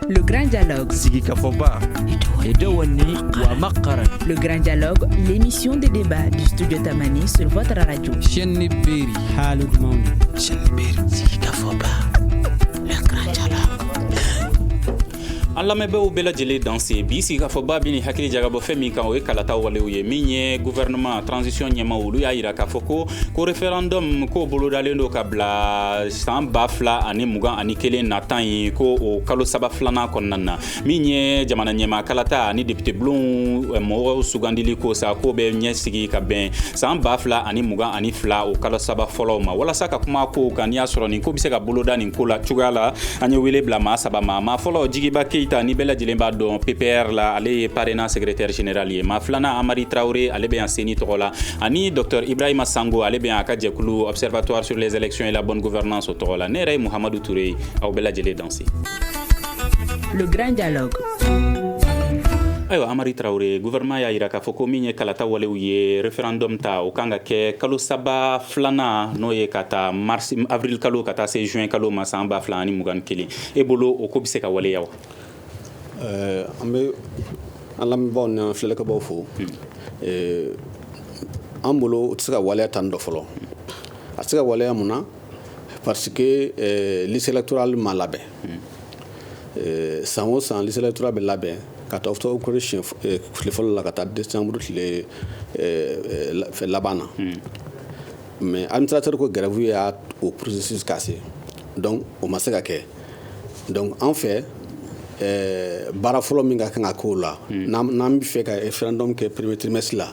Le grand dialogue. Sigikafɔba. Edewenni wa maqqaran. Le grand dialogue, l'émission de débat du studio Tamani sur votre radio. Šenni beeri. Hali dumanw ye. Šenni beeri. Sigikafɔba. Le grand dialogue. An lamɛnbaaw bɛɛ lajɛlen danse bi sigikafɔba bɛna hakili jagabɔ fɛn min kan o ye kalata walew ye min ye gouvernement transition ɲɛmaaw olu y'a yira k'a fɔ ko ko referendum k'o bolodalen don ka bila san ba fila ani mugan ani kelen natan ye ko o kalo saba filanan kɔnɔna na min ye jamana ɲɛmaa kalata ani depitebulonw eh, mɔgɔw sugandili ko sa ko bɛ ɲɛsigi ka bɛn san ba fila ani mugan ani fila o kalo saba fɔlɔw ma walasa ka kuma kow kan n'i y'a sɔrɔ nin ko bɛ se ka boloda nin ko la cogoya la an ye wele bila maa saba ma maa fɔlɔ jigiba keyita ni bɛɛ lajɛlen b'a dɔn ppr la ale ye parena secrétaire général ye maa filanan amari tarawele ale bɛ yan ceni tɔgɔ la ani docteur ibrahima sango ale bɛ yan a ka jɛkulu observatoire sur les élections et la bonne gouvernance o tɔgɔ la ne yɛrɛ ye muhamadu ture ye aw bɛɛ lajɛlen danse le grand dialogue ayiwa amari tarawele gouvernement y'a yira k'a fɔ ko min ye kalata walew ye referendum ta o kan ka kɛ kalo saba filanan n'o ye k'a ta mars avril kalo ka taa se juin kalo ma san ba fila ani mugan kelen e bolo o ko bɛ se ka waleya wa eh, an bɛ an lamɛnbaaw ni an filɛlikɛbaaw fo hmm. eh, an bolo o tɛ se ka waleya tan dɔ fɔlɔ a tɛ se ka waleya mun na parce que euh, liste électorale ma labɛn euh, san o san liste électorale bɛ labɛn k'a ta octobre kalo siɲɛ euh, tile fɔlɔ la ka taa décembre tile laban na hmm. mais administrateur ka grève ye o processus cassé donc o ma se ka kɛ donc an fɛ baara fɔlɔ min ka kan ka k'o la hmm. n'an bɛ fɛ ka référendum kɛ premier trimestre la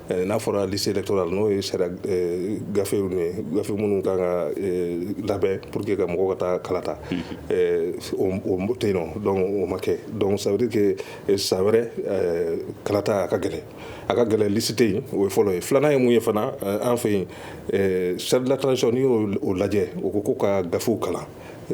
Eh, n'a fɔra liste électorale n'o ye sariya eh, gafew ni ye gafe minnu kan ka eh, labɛn pour que ka mɔgɔw ka taa kalata o tɛ yen nɔ donc o ma kɛ donc ça veut dire que san wɛrɛ kalata a ka gɛlɛn a ka gɛlɛn lisi tɛ yen o ye fɔlɔ ye filanan ye mun ye fana an fɛ yen charte de la transition n'i y'o lajɛ o ko ko ka gafew kalan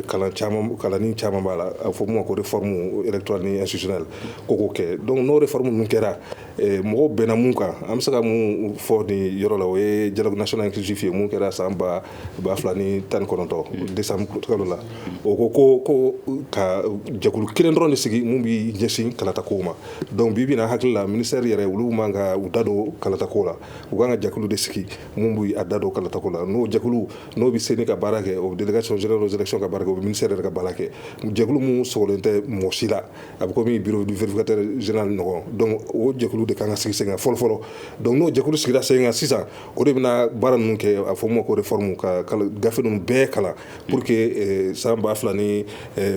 kalan caman kalanni caman b'a la a fɔ min ma ko réforme électorale ni institutionnelle ko k'o kɛ donc n'o réforme ninnu kɛra eh, mɔgɔw bɛnna mun kan an bɛ se ka mun fɔ nin yɔrɔ la o ye dialogue national inclusif ye mun kɛra san ba ba fila ni tan ni kɔnɔntɔn décembre kalo la o ko ko ko ka jɛkulu kelen dɔrɔn de sigi mun b'i ɲɛsin kalatakow ma donc bi bi an hakili la ministère yɛrɛ olu man ka u da don kalatakow la u kan ka jɛkulu de sigi mun b'a da don kalatako la n'o jɛkulu n'o bɛ CENI ka baara kɛ o délégation générale aux élections ka baara kɛ o ministère yɛrɛ ka baara kɛ jɛkulu min sogolen tɛ mɔgɔ si la a bɛ kɔmi bureau du vérificateur général ɲɔgɔn donc o jɛkulu de ka kan ka sigi sen kan fɔlɔfɔlɔ donc n'o jɛkulu sigira sen kan sisan o de bɛna baara ninnu kɛ a fɔ min ma ko réforme ka gafe ninnu bɛɛ kalan pour que san ba fila ni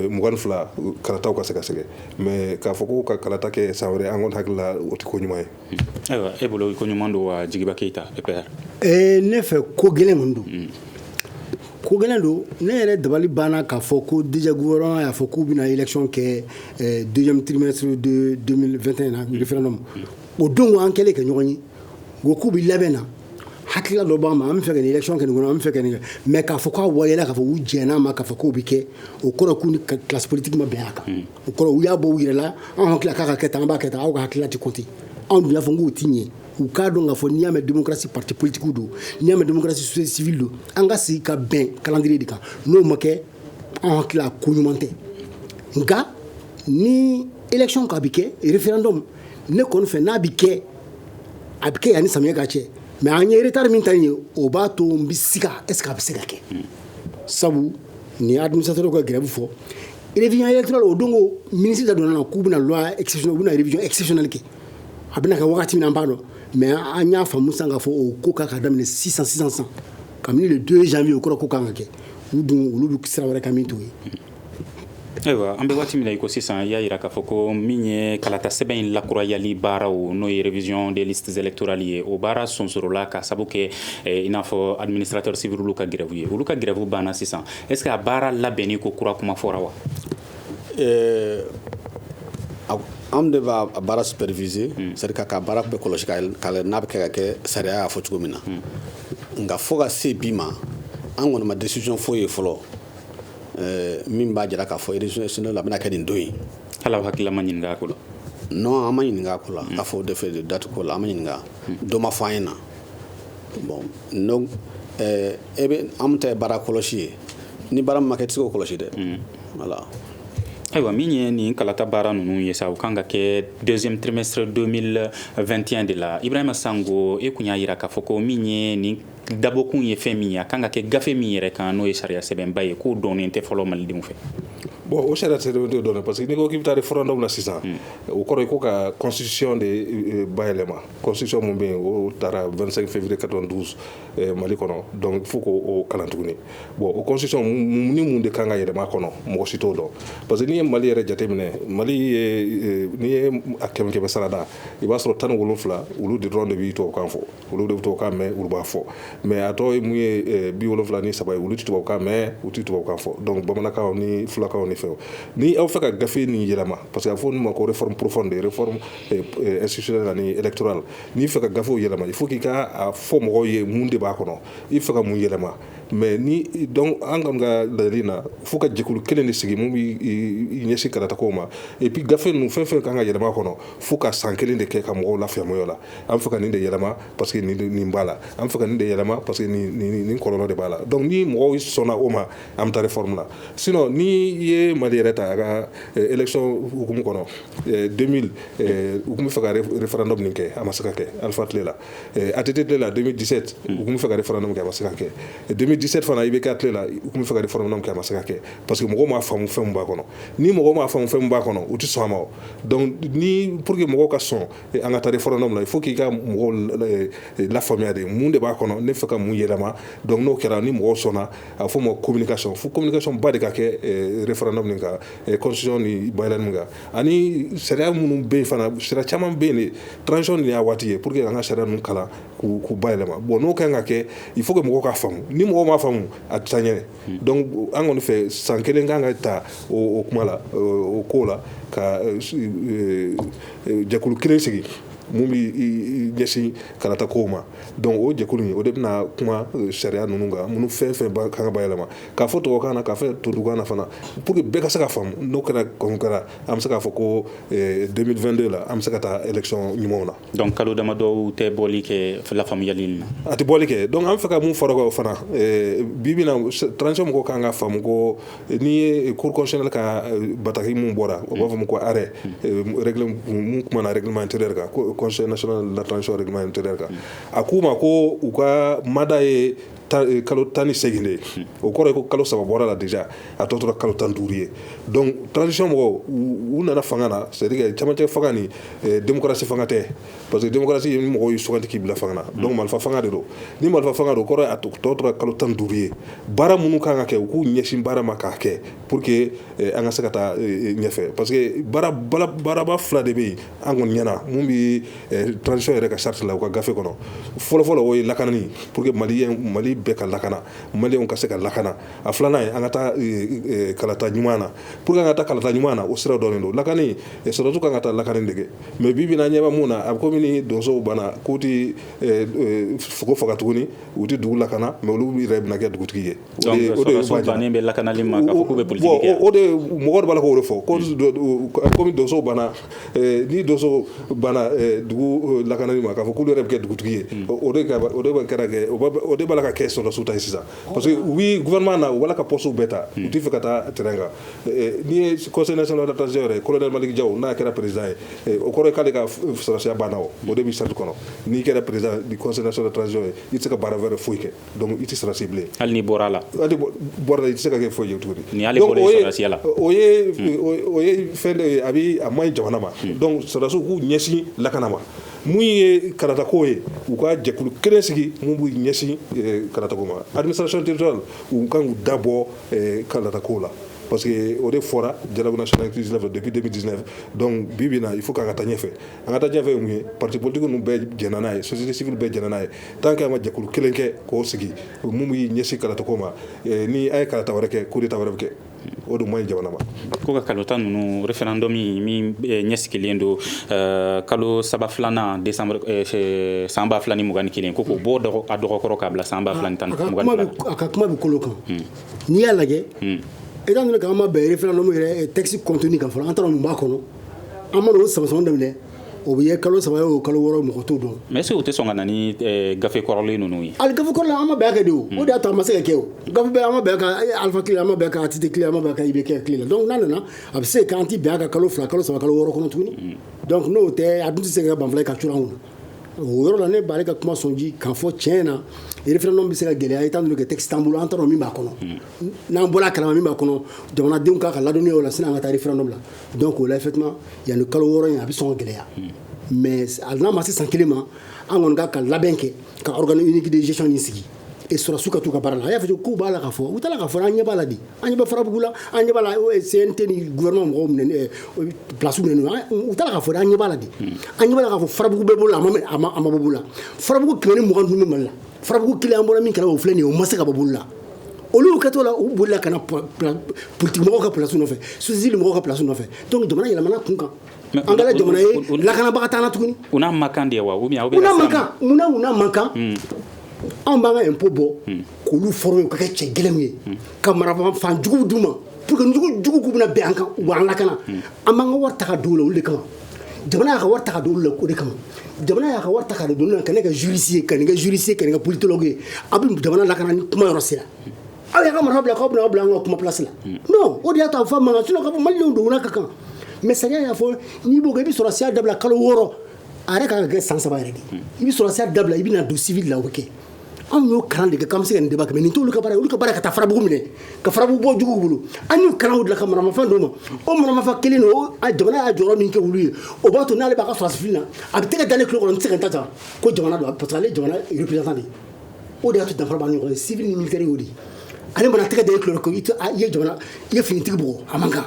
mugan ni fila kalataw ka sɛgɛsɛgɛ mais k'a fɔ ko ka kalata kɛ san wɛrɛ an kɔni hakilila o tɛ ko ɲuman ye Ayiwa e bolo ko ɲuman don wa jigiba keyita PPR ne fɛ ko gɛlɛn kɔni don ko gɛlɛn don ne yɛrɛ dabali banna k'a fɔ ko déjà gouvernement y'a fɔ k'u bɛna élection kɛ deuxième trimestre de 2021 na référendum o don an kɛlen ka ɲɔgɔn ye wo k'u bɛ labɛn na hakilila dɔ b'a ma an bɛ fɛ ka élection kɛ nin kɔnɔ an bɛ fɛ ka nin kɛ mais k'a fɔ k'a wale k'a fɔ u jɛnn'a ma k'a fɔ k'o bɛ kɛ o kɔrɔ k'u ni classe politique ma bɛn a kan o kɔrɔ u y'a bɔ u yɛrɛ la an hakili k'a ka kɛ tan an b'a kɛ tan aw ka hakilila tɛ compter anw dun y'a fɔ k'o ti ɲɛ u k'a dɔn k'a fɔ n'i y'a mɛn démocratie parti politique don n'i y'a mɛn démocratie société civile don an ka sigi ka bɛn calendrier de kan n'o ma kɛ an hakili la ko ɲuman tɛ nka ni élection ka bi kɛ référendum ne kɔni fɛ n'a bi kɛ a bi kɛ yanni samiyɛ ka cɛ mais an ye retard min ta ye o b'a to n bi siga est ce que a bɛ se ka kɛ sabu ni administrateur ka grève fɔ révision électorale o don ko ministre da donna k'u bɛna loi exceptionnelle u bɛna révision exceptionnelle kɛ a bɛna kɛ wagati min na an b'a dɔn mais an y'a faamu sisan k'a fɔ o ko kan ka daminɛ sisan sisan sisan kabini le 2 janvier o kɔrɔ ko kan ka kɛ u dun olu bɛ sira wɛrɛ kan min t'o ye ayiwa an bɛ waati min na i ko sisan i y'a yira k'a fɔ ko min ye kalata sɛbɛn in lakurayali baaraw n'o ye révision des listes électorales ye o baara sonsorola ka sabu kɛ eh, i n'a fɔ administrateur civil olu ka grève ye olu ka grève banna sisan est ce que a baara labɛnni ko kura kuma fɔra wa eh, an de b'a baara superviser hmm. c'est à dire ka baara bɛɛ kɔlɔsi ka n'a bɛ kɛ ka kɛ sariya y'a fɔ cogo min na hmm. nka fo ka se bi ma an kɔni ma décision foyi ye fɔlɔ eh, min b'a jira k'a fɔ élection nationale a bɛna kɛ nin don in hali aw hakilila ma ɲininka a ko la non an ma ɲininka a ko la k'a fɔ o de fɛ date ko la an ma ɲininka dɔ ma fɔ an ɲɛ na bon donc ɛɛ e bɛ an ta ye baara kɔlɔsi ye ni baara min ma kɛ i tɛ se k'o kɔlɔsi dɛ mm. voilà ayiwa min ye nin kalata baara ninnu ye sa o kan ka kɛ deuxième trimestre 2021 de la ibrahima sango e kun y'a yira k'a fɔ ko min ye nin dabɔkun ye fɛn min ye a kan ka kɛ gafe min yɛrɛ kan n'o ye sariya sɛbɛnba ye k'o dɔnnen tɛ fɔlɔ malidenw fɛ bon o sariya tɛ dɔ dɔn parce que n'i ko k'i bɛ taa référendum na sisan o kɔrɔ ye ko ka constitution de euh, bayɛlɛma constitution min bɛ yen o taara 25 février 92 eh, mali kɔnɔ donc fo k'o kalan tuguni bon o constitution ni mun de kan ka yɛlɛma kɔnɔ mɔgɔ si t'o dɔn parce que n'i ye mali yɛrɛ jateminɛ mali ye n'i ye a kɛmɛ kɛmɛ sarada i b'a sɔrɔ tan ni wolonfila olu de dɔrɔn de bɛ tubabukan fɔ olu de bɛ tubabukan mɛn olu b'a fɔ mais a tɔ ye mun ye eh, bi wolonfila ni saba ye olu tɛ tubabukan mɛn u tɛ tubabukan fɔ donc bamanankan ni fulakan ni fɛnw ni aw fɛ ka gafe nin yɛlɛma parce que a fɔ olu ma ko réforme profonde réforme institutionnelle ani électorale n'i fɛ ka gafew yɛlɛma il faut k'i k'a fɔ mɔgɔw ye mun de b'a kɔnɔ i fɛ ka mun yɛlɛma mais ni donc an ka laɲini na fo ka jɛkulu kelen de sigi min bɛ ɲɛsin kalata ko ma et puis gafe ninnu fɛn fɛn kan ka yɛlɛma kɔnɔ fo ka san kelen de kɛ ka mɔgɔw lafaamuya o la an fɛ ka nin de yɛlɛma parce que nin b'a la an fɛ ka nin de yɛlɛma parce que nin kɔlɔlɔ de b'a la donc ni mɔgɔw sɔnna o ma an bɛ taa réforme la sinon n'i ye mali yɛrɛ ta a ka élection hukumu kɔnɔ 2000 u tun bɛ fɛ ka referendum nin kɛ a ma se ka kɛ Alpha tile la ATT tile la 2017 u tun bɛ fɛ ka referendum kɛ a ma se ka kɛ 2017 fana IBK tile la u tun bɛ fɛ ka referendum kɛ a ma se ka kɛ parce que mɔgɔw m'a faamu fɛn min b'a kɔnɔ ni mɔgɔw m'a faamu fɛn min b'a kɔnɔ u tɛ sɔn a ma donc ni pour que mɔgɔw ka sɔn an ka taa referendum la il faut k'i ka mɔgɔw lafaamuya de mun de b'a kɔnɔ ne fɛ ka mun yɛlɛma donc n'o kɛra ni mɔgɔw sɔnna a fɔ ma communication fo communication ba de ka kɛ referendum nin kan constitution ni bayɛlɛma nin kan ani sariya minnu bɛ yen fana sariya caman bɛ yen transition de y'a waati ye pour que an ka sariya ninnu kalan k'u bayɛlɛma bon n'o kan ka kɛ il faut que mɔgɔw k'a faamu ni mɔgɔw m'a faamu a tɛ taa ɲɛ an kɔni fɛ san kelen kan ka ta o kuma la o ko la ka jɛkulu kelen sigi min bɛ ɲɛsin kalata ko ma donc o jɛkulu in o de bɛna kuma euh, sariya ninnu kan minnu fɛn fɛn kan ka bayɛlɛma k'a fɔ tɔgɔkan na k'a fɔ tubabukan na fana pour que bɛɛ ka se k'a faamu n'o kɛra kɔni kɛra an bɛ se k'a fɔ ko 2022 euh, la an bɛ se ka taa élection ɲumanw na donc kalo damadɔw tɛ bɔli kɛ lafaamuyali nin na a tɛ bɔli kɛ donc an fɛ ka mun fara o fana euh, bi bi na transition mɔgɔw kan k'a faamu ko n'i ye kurukɔsili ka bataki min bɔra o b'a fɔ ko arɛɛ tumaumana regilima ter kan kɔsɔn latɔnɔn ter kan a k'u ma ko u ka mada ye kalo tan ni segin de o kɔrɔ ye ko kalo saba bɔra la di a tɔ tora kalo tan duuru ye tanc mɔgɔw u nana fanga na seri camancɛ fanga ni denmusosi fanga tɛ parce que démocratie ye ni mɔgɔw y'i sugandi k'i bila fanga na donc marifa fanga de don ni marifa fanga don o kɔrɔ ye a tɔ tora kalo tan duuru ye baara minnu kan ka kɛ u k'u ɲɛsin baara ma k'a kɛ pour que eh, an ka se ka taa eh, eh, ɲɛfɛ parce que baaraba fila de bɛ yen an kɔni ɲɛna mun bɛ transition yɛrɛ ka charte la u ka gafe kɔnɔ fɔlɔfɔlɔ o ye lakanani pour que mali mali bɛɛ ka lakana maliyɛnw ka se ka lakana a filanan ye an ka taa kalata ɲuman na pour que an ka taa kalata ɲuman na o sira dɔnnen don lakani sɔrɔdasiw kan ka taa lakani de kɛ mais bi bi in na ɲɛ bɛ min na a bɛ kɔmi ni donsow banna k'u tɛ sogo faga tuguni u tɛ dugu lakana mais olu yɛrɛ bɛna kɛ dugutigi ye donc sɔrɔdasiw bannen bɛ lakanali ma k'a fɔ k'u bɛ politiki kɛ o de mɔgɔ de b'a la k'o de fɔ kɔmi donsow banna ni donsow banna dugu lakanali ma k'a fɔ k'olu yɛrɛ bɛ kɛ dugutigi ye o o de b'a la ka kɛ sɔrɔdasiw ta ye sisan Parce que u bɛ gouvernement na u b'a la ka postes bɛɛ ta u t'a fɛ ka taa terrain kan n'i ye conseil national de la transition yɛrɛ colonel Malick Diaw n'a kɛra président ye o kɔrɔ ye k'ale ka sɔrɔsiya banna o de bɛ charte kɔnɔ n'i kɛra président du conseil national de la transition ye i tɛ se ka baara wɛrɛ foyi kɛ donc i tɛ sɔrɔsi bilen hali n'i bɔra a la hali n'i bɔra a la i tɛ se ka kɛ foyi ye tuguni ni ale bɔra sɔrɔsiya la o ye o ye fɛn dɔ ye a bɛ a man ɲi jamana ma donc sɔrɔdasiw k'u ɲɛsin lakana ma mun ye kalatako ye u ka jɛkulu kelen sigi min b'u ɲɛsin eh, kalatako ma administration territoriale u kan k'u dabɔ eh, kalatako la parce que o de fɔra dialogue national inclusif la depuis 2019 donc bi bi na il faut k'an ka taa ɲɛfɛ an ka taa ɲɛfɛ ye mun ye parti politique ninnu bɛɛ jɛnna n'a ye société civile bɛɛ jɛnna n'a ye tant que an ma jɛkulu kelen kɛ k'o sigi mun b'i ɲɛsin kalatako ma eh, ni an ye kalata wɛrɛ kɛ coup d'état wɛrɛ bɛ kɛ o de man ɲi jamana ma ko ka kalata ninnu référendum min eh, ɲɛsigilen don eh, kalo saba filanan décembre eh, san ba fila ni mugan ni kelen ko k'o bɔ a dɔgɔ kɔrɔ k'a bila san ba fila ni mugan ni fila a ka kuma bɛ kolo kan hmm. n'i y'a lajɛ hmm. étant donné k'an ma bɛn référendum yɛrɛ texte contenu kan fɔlɔ an t'a dɔn mun b'a kɔnɔ an mana o samasama daminɛ o bɛ ye kalo saba ye o kalo wɔɔrɔ mɔgɔ t'o dɔn mais est-ce que u tɛ sɔn ka na ni eh, gafe kɔrɔlen ninnu ye ali gafe kɔrɔlen an ma bɛn a kan dɛ o o de y'a to a ma se ka kɛ o gafe bɛɛ an ma bɛn a kan eh, Alpha kile an ma bɛn a kan ATT kile an ma bɛn a kan IBK kile la donc n'a nana a bɛ se k'an ti bɛn a kan kalo fila kalo saba kalo wɔɔrɔ kɔnɔ tuguni mm. donc n'o tɛ a dun tɛ se ka banfula ye ka cura an kun na o yɔrɔ la ne b'ale ka kuma sɔnji k'a fɔ tiɲɛ na référendum bɛ se ka gɛlɛya étant donné que texte t'an bolo an t'a dɔn min b'a kɔnɔ n'an bɔra a kalama min b'a kɔnɔ jamanadenw ka kan ka ladɔnniya o la sani an ka taa référendum la donc o la effectivement yanni kalo wɔɔrɔ in a bɛ sɔn ka gɛlɛya mais a n'a ma se san kelen ma an kɔni ka kan ka labɛn kɛ ka organe unique de gestion in sigi et sɔrɔsiw ka t'u ka baara la a y'a fɔ k'u b'a la k'a fɔ u t'a dɔn k'a fɔ an ɲɛ b'a la de an ɲɛ bɛ farabugu la an ɲɛ b'a la CNT ni gouvernement mɔgɔw minɛ eh, place minɛ n'u u t'a dɔn k'a fɔ an ɲɛ b'a la de an ɲɛ b'a la k'a fɔ farabugu bɛ bolo la a ma mɛ- a ma a ma bɔ bolo la farabugu kɛmɛ ni mugan ni duuru bɛ mali la farabugu kelen an bɔra min kɛra o filɛ nin ye o ma se ka bɔ bolo la olu ka to la u bolila ka na politique mɔgɔw ka plasi nɔfɛ société mɔgɔw ka plasi nɔfɛ donc jamana yɛlɛmana kun kan an kɛra jamana ye lakanabaga t'an na tuguni u n'a man kan de wa munna u n'a man kan hmm. anw b'an ka impôt bɔ hmm. k'olu former u ka kɛ cɛ gɛlɛnmanw ye hmm. ka marafa jugu d'u ma pour que jugu k'u bɛna bin an kan u b'an lakana an b'an ka wari ta don la olu de kama jamana y'a ka wari ta ka don olu la o de kama jamana y'a ka wari ta ka don la ka ne kɛ juriste ye ka ne kɛ juriste ye ka ne kɛ politologue ye aw bɛ jamana lakana ni kuma yɔrɔ sera aw y'aw ka marafa bila k'aw bɛna aw bila an ka kuma place la non o de y'a to a fɔ man kan sinon k'a fɔ malidenw dogona ka kan mais sariya y'a fɔ n'i b'o kɛ i bɛ sɔrɔsiya dabila kalo wɔɔrɔ a yɛrɛ ka kan ka kɛ san saba yɛrɛ de i bɛ sɔrɔsiya dabila i bɛna don civil la o bɛ kɛ anw y'o kalan de kɛ k'an bɛ se ka nin débat kɛ mais nin t'olu ka baara ye olu ka baara ye ka taa farabugu minɛ ka farabugu bɔ juguw bolo an y'u kalan o de la ka maramafɛn d'u ma o maramafɛn kelen de o a jamana y'a jɔyɔrɔ min kɛ olu ye o b'a to n'ale b'a ka sɔrɔdasi fini na a bɛ tɛgɛ da ne tulo kɔnɔ n tɛ se ka n ta ta ko jamana don parce que ale ye jamana représentant de ye o de y'a to danfara b'an ni ɲɔgɔn cɛ civil ni militaire y'o de ye ale mana tɛgɛ da e tulo la ko i tɛ a i ye jamana i ye finitigi bugɔ a man kan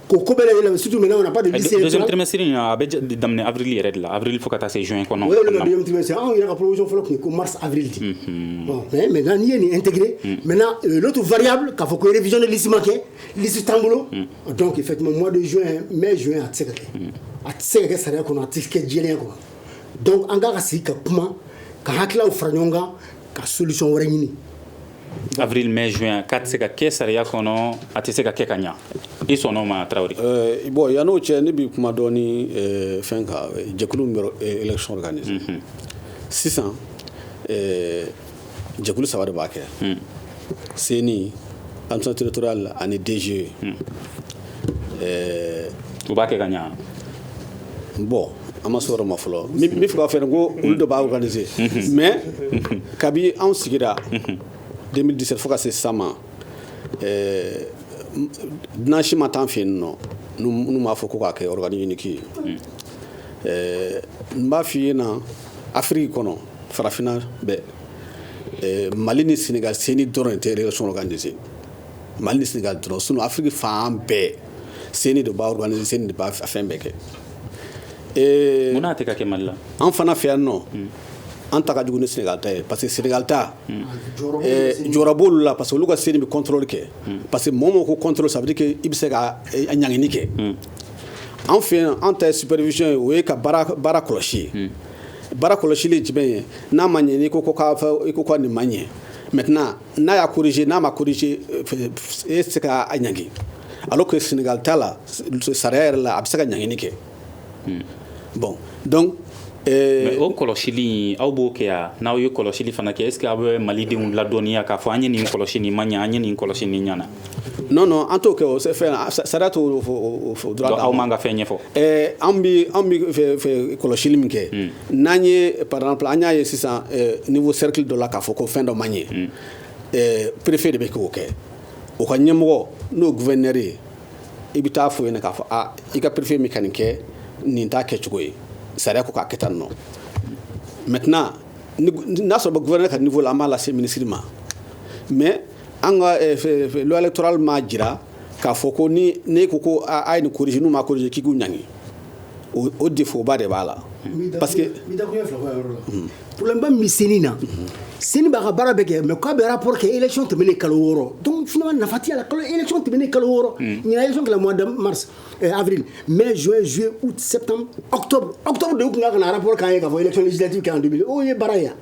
ko ko bɛɛ lajɛlen surtout maintenant on n'a pas de liste deuxième trimestre in a bɛ daminɛ avril yɛrɛ de la avril fo ka taa se juin kɔnɔ o ye le deuxième trimestre anw yɛrɛ ka proposition fɔlɔ tun ye ko mars avril de mhm. bon mais maintenant n'i ye nin intégré mhm. maintenant euh, l'autre variable k'a fɔ ko révision de liste ma kɛ liste t'an bolo mhm. donc effectivement mois de juin mai juin a tɛ se ka kɛ a tɛ se ka kɛ sariya kɔnɔ a tɛ kɛ jɛlenya kɔnɔ donc an ka kan ka sigi ka kuma ka hakililaw fara ɲɔgɔn kan ka solution wɛrɛ ɲini Avril mai juin k'a tɛ se ka kɛ sariya kɔnɔ a tɛ se ka kɛ ka ɲɛ i sɔnna o ma Tarawele. Ɛɛ bon yani o cɛ ne bɛ kuma dɔɔni ɛɛ fɛn kan jɛkulu min bɛ élection organiser unhun, sisan ɛɛ jɛkulu saba de b'a kɛ un, CENI, administration territoriale ani DGE un, ɛɛ u b'a kɛ ka ɲɛ wa? Bon an ma sɔrɔ ma fɔlɔ n b'a fɛ k'a fɔ ko olu de b'a organiser mais kabi anw sigira 2017 fo ka se sisan ma eh, dunan si ma t'an fɛ yen nɔ n'u m'a fɔ ko k'a kɛ organe unique ye eh, n b'a f'i ye na afiriki kɔnɔ farafinna bɛɛ eh, mali ni senegal CENI dɔrɔn tɛ élection organiser mali ni senegal dɔrɔn sinon afiriki fan bɛɛ CENI de b'a organiser CENI de b'a fɛn bɛɛ kɛ ee munna a tɛ ka kɛ Mali la an fana fɛ yan nɔ an ta ka jugu ni Senegal ta ye parce que Senegal ta jɔyɔrɔ b'olu la parce que olu ka CENI bɛ contrôle kɛ parce que mɔgɔ mɔgɔ ko contrôle ça veut dire que i bɛ se ka ɲangini kɛ an fɛ yan an ta ye supervision ye o ye ka baara kɔlɔsi ye baara kɔlɔsili ye jumɛn ye n'a ma ɲɛ n'i ko ko ka nin ma ɲɛ maintenant n'a y'a corriger n'a ma corriger euh, e tɛ se ka a ɲangi alors que Sénégal ta la sariya yɛrɛ la a bɛ se ka ɲangini kɛ hmm. bon donc Eh, o kɔlɔsili aw b'o kɛ yan n'aw ye kɔlɔsili fana kɛ est ce que aw bɛ malidenw ladɔnniya k'a fɔ an ye nin kɔlɔsi nin ma ɲa an ye nin kɔlɔsi nin ɲana non non an t'o kɛ o fɛn na sariya t'o droit d'anw ma ka fɛn ɲɛfɔ eh, an bi an bi kɔlɔsili min kɛ hmm. n'an ye par exemple an y'a ye sisan eh, niveau cercle dɔ la k'a fɔ ko fɛn dɔ ma ɲɛ hmm. eh, préfet de bɛ k'o kɛ o ka ɲɛmɔgɔ n'o gouverneur ye i bɛ taa fɔ yen k'a fɔ a ah, i ka préfet bɛ ka nin kɛ nin t'a kɛcogo ye sariya ko k'a kɛ tan nɔ maintenant n'a sɔrɔ gouverneur ka niveau la an b'a lase ministre ma mais an ka eh, loi électorale m'a jira k'a fɔ ko ni ne ko ko a ye nin corriger n'u m'a corriger k'i k'u ɲangi o defoba de b'a la parce que pba min senni na sen b'a ka baara bɛ kɛ mɛ k'a bɛ poro que ec tɛm ne kalo wɔɔrɔ f nafatiya la e tɛm ne kalo wɔɔrɔ ɲɛna mari afi mɛ zo zoye u sɛ awto de tun ka ka ara bɔ k'a ye ka fɔ e kɛ o ye baara yan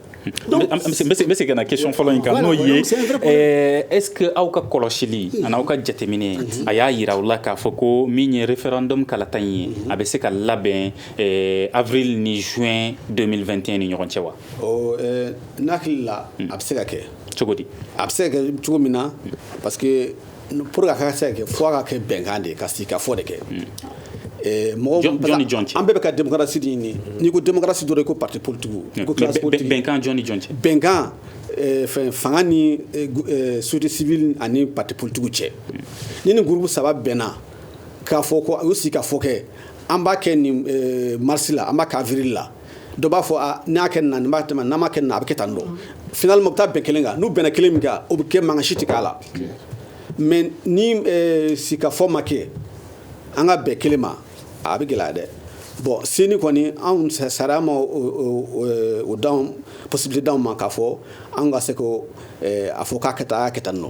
Donc, an bɛ segin ka na question fɔlɔ in kan n'o ye eh, est-ce que aw ka kɔlɔsili an'aw ka jateminɛ a y'a yira aw la k'a fɔ ko min ye référendum kalata in ye a bɛ se ka labɛn eh, avril ni juin 2021 ni ɲɔgɔn cɛ wa eh, n'a hakili la a bɛ se ka kɛ cogo di a bɛ se ka kɛ cogo min na parce que pour que a ka se ka kɛ fo a ka kɛ bɛnkan de ye ka sigikafɔ de kɛ eh, mɔgɔ jɔn ni jɔn cɛ an bɛɛ bɛ ka démocratie de ɲini n'i ko démocratie dɔrɔn i ko parti politique hmm. ko classe politique bɛnkan jɔn ni jɔn cɛ bɛnkan eh, fɛn fanga ni eh, société civile ani parti politique cɛ hmm. ni ni groupe saba bɛnna k'a fɔ ko u sigikafɔ kɛ an b'a kɛ nin mars la an b'a kɛ avril la dɔ b'a fɔ ah, n'a kɛ na b'a tɛmɛ n'a ma kɛ na a bɛ kɛ tan don finalement u bɛ taa bɛn kelen kan n'u bɛnna kelen min kan o bɛ kɛ mankan si tɛ kɛ a la mais ni eh, sigikafɔ ma kɛ an ka bɛn kelen ma a bɛ gɛlɛya dɛ bon CENI kɔni anw sariya ma o dan possibilité d'anw ma k'a fɔ anw ka se ko eh, a fɔ k'a kɛ tan a y'a kɛ tan nɔ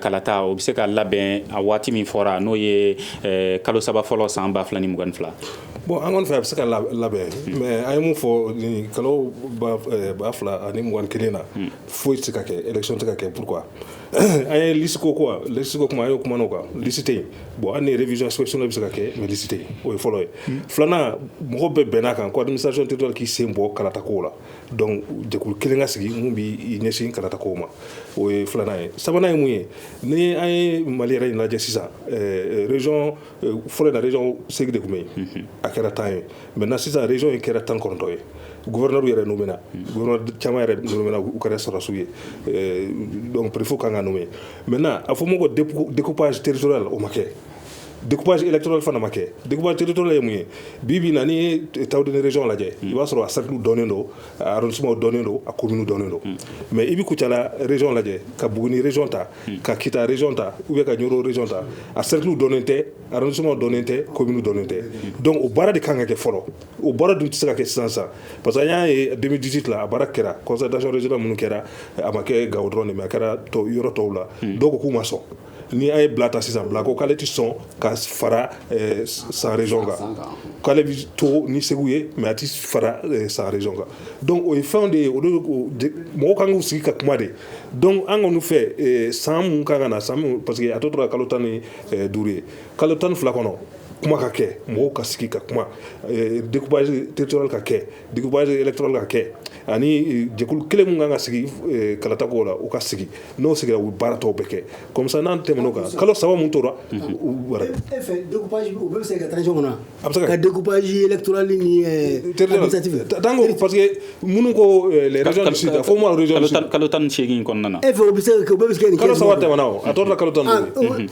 kalata o bɛ se ka labɛn a waati min fɔra n'o ye kalo saba fɔlɔ san ba fila ni mugan fila bon an kɔni fɛ a bɛ se ka labɛn mais an ye mun fɔ kalo ba fila ani mugan kelen na foyi tɛ ka kɛ élection tɛ ka kɛ pourquoi a ye liste ko ko liste ko kuma a ye o kuma kan liste yen bon ani révision inscription bɛ se ka kɛ mais liste o ye fɔlɔ ye filanan mɔgɔ bɛɛ bɛnna a kan ko administration territoriale k'i sen bɔ kalata ko la dɔnku jɛkulu kelen ka sigi min bɛ ɲɛsin karata ko ma o ye filanan ye sabanan ye mun ye ni an ye mali yɛrɛ in lajɛ sisan rezson fɔlɔ da rez seg de tun bɛ yen a kɛra tan ye mɛ na sisan rez in kɛra tan kɔnɔntɔn ye gɛrɛinabu yɛrɛ n'u bɛna caman yɛrɛ minnu u kɛra sɔrɔsiw ye dɔnku ppfu ka kan n'u ye mɛ a fɔ ma ko depzsiteririso la o ma kɛ découpage électoral fana ma kɛ découpage territorial ye mun ye bi bi na n'i ye tawudene région lajɛ i b'a sɔrɔ a cercle dɔnnen don a arrondissement dɔnnen don a commune dɔnnen don hmm. mais i bi kucala région lajɛ ka buguni région ta hmm. ka kita région ta ou bien ka ɲoro région ta a cercle dɔnnen tɛ arrondissement dɔnnen tɛ commune dɔnnen tɛ hmm. donc o baara de kan ka kɛ fɔlɔ o baara dun tɛ se ka kɛ sisan sisan parce que an y'a ye 2018 la a baara kɛra concertation régionale minnu kɛra a ma kɛ gawo dɔrɔn de mais a kɛra yɔrɔ tɔw la dɔw ko k'u ma sɔn ni an ye bila ta sisan bila ko k'ale tɛ sɔn ka fara eh, san région kan k'ale bɛ to ni segu ye mais a tɛ fara eh, san région kan donc o ye fɛnw de ye olu mɔgɔw kan k'u sigi ka kuma de donc an kɔni fɛ eh, san mun kan ka na san mun parce que a tɔ tora kalo tan ni duuru ye kalo tan ni fila kɔnɔ kuma ka kɛ mɔgɔw ka sigi ka kuma découpage territorial ka kɛ Duguba dɔrɔn ka kɛ ani jɛkulu kelen min kan ka sigi kalata o la u ka sigi n'o sigira u baara tɔw bɛ kɛ kɔmisa n'an tɛm kan kalo saba min tora se ka taa ɲɔgɔn na a bɛ se ka dubaurali pa que minnu ko fɔ kalo tan nisegin kɔnɔna na e fɛ bɛ se kalo saba tɛm a tɔ kalo tan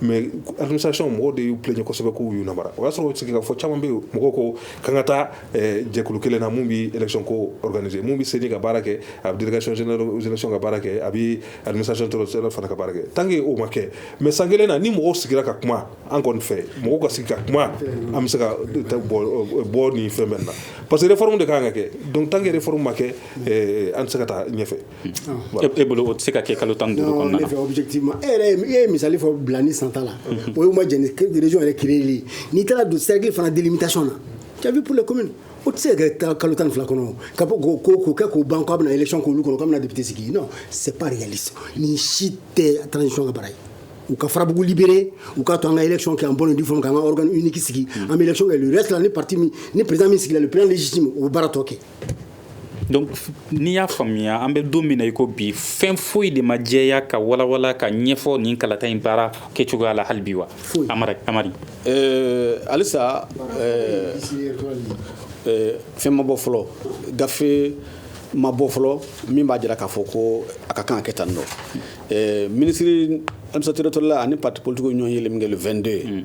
mais administration mɔgɔw de y'u plaigner kosɛbɛ k'u y'u namara o y'a sɔrɔ sigikafɔ caman bɛ yen mɔgɔw ko k'an ka taa eh, jɛkulu kelen na min bɛ élection ko organiser min bɛ seni ka baara kɛ a bɛ délégation générale aux élections ka baara kɛ a bɛ administration territoriale fana ka baara kɛ tant que o ma kɛ mais san kelen na ni mɔgɔw sigira ka kuma an kɔni fɛ mɔgɔw ka sigi ka kuma an bɛ se ka bɔ nin fɛn bɛɛ na parce que réforme de ka kan ka kɛ donc tant que réforme ma kɛ eh, an tɛ se ka taa ɲɛfɛ E bolo o tɛ se ka kɛ kalo tan ni duuru kɔnɔna na objectivement e yɛrɛ e ye misali fɔ bila ni san ta la o ye ma jɛn ni région yɛrɛ créer li ye n'i taara don cercle fana délimitation na tu as vu pour les communes o tɛ se ka kɛ kalo tan ni fila kɔnɔ ka bɔ k'o ko k'o kɛ k'o ban k'a bɛna élection k'olu kɔnɔ k'a bɛna député sigi non c'est pas réaliste nin si tɛ transition ka baara ye u ka farabugu libérer u k'a to an ka élection kɛ en bonne et due forme k'an ka organe unique sigi an bɛ élection kɛ le reste la ni parti min ni président min sigila le président légitime o bɛ baara tɔ kɛ donc n'i y'a faamuya an bɛ don min na i ko bi fɛn foyi de ma jɛya ka walawala ka ɲɛfɔ nin kalata in baara kɛ cogoya la hali bi wa amari amari euh, halisa euh, euh, fɛn ma bɔ fɔlɔ gafe ma bɔ fɔlɔ min b'a jira k'a fɔ ko a ka kan ka kɛ tan non ministre administration territoriale ani parti politikiw ɲɔgɔn yelen min kɛ le 22 ye mm.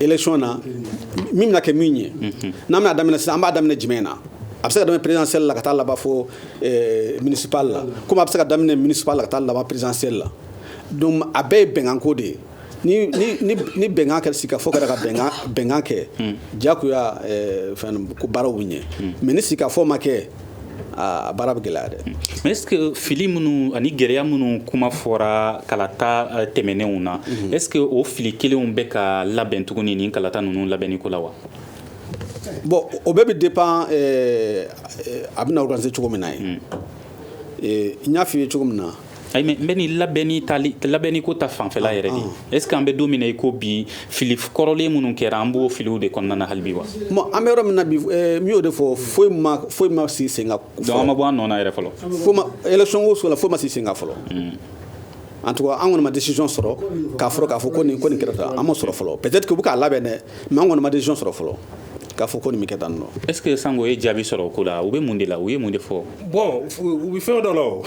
élection na min bɛna kɛ min ye n'an bɛna daminɛ sisan an b'a daminɛ jumɛn na a bɛ se ka daminɛ présidentielle la ka taa laban fo eh, municipal la comme a bɛ se ka daminɛ municipal la ka taa laban présidentielle la donc a bɛɛ ye bɛnkanko de ye ni ni ni ni bɛnkan kɛra sigikafɔ kɛra ka bɛnkan bɛnkan kɛ jagoya eh, fɛn ko baaraw bɛ ɲɛ mais ni sigikafɔ ma kɛ a baara bɛ gɛlɛya dɛ mais est ce que fili minnu ani gɛlɛya minnu kuma fɔra kalata euh, tɛmɛnenw na mhm. est ce que o fili kelenw bɛ ka labɛn tuguni nin kalata ninnu labɛnni ko la wa bon o bɛɛ bɛ dépend euh, euh, a bɛna organiser cogo min na ye mm. n y'a f'i ye cogo min na labɛnni ko ta fanfɛla yɛrɛ de est ce que an bɛ don min na i ko bi fili kɔrɔlen minnu kɛra an b'o filiw de kɔnɔna na hali bi wa bon an bɛ yɔrɔ min na bi eh, n y'o de fɔ foyi ma foyi ma sigi sen kan donc an ma bɔ an nɔ na yɛrɛ fɔlɔ foyi ma élection ko so la foyi ma sigi sen kan fɔlɔ hmm. en tout cas an kɔni ma décision sɔrɔ k'a fɔra k'a fɔ ko nin ko nin kɛra tan an ma sɔrɔ fɔlɔ peut-être que u bɛ k'a labɛn dɛ mais an kɔni ma décision sɔrɔ fɔlɔ k'a fɔ ko nin bɛ kɛ tan non est ce que sango ye jaabi sɔrɔ o ko la u bɛ mun de la u ye mun de fɔ bon u bɛ fɛn dɔ la o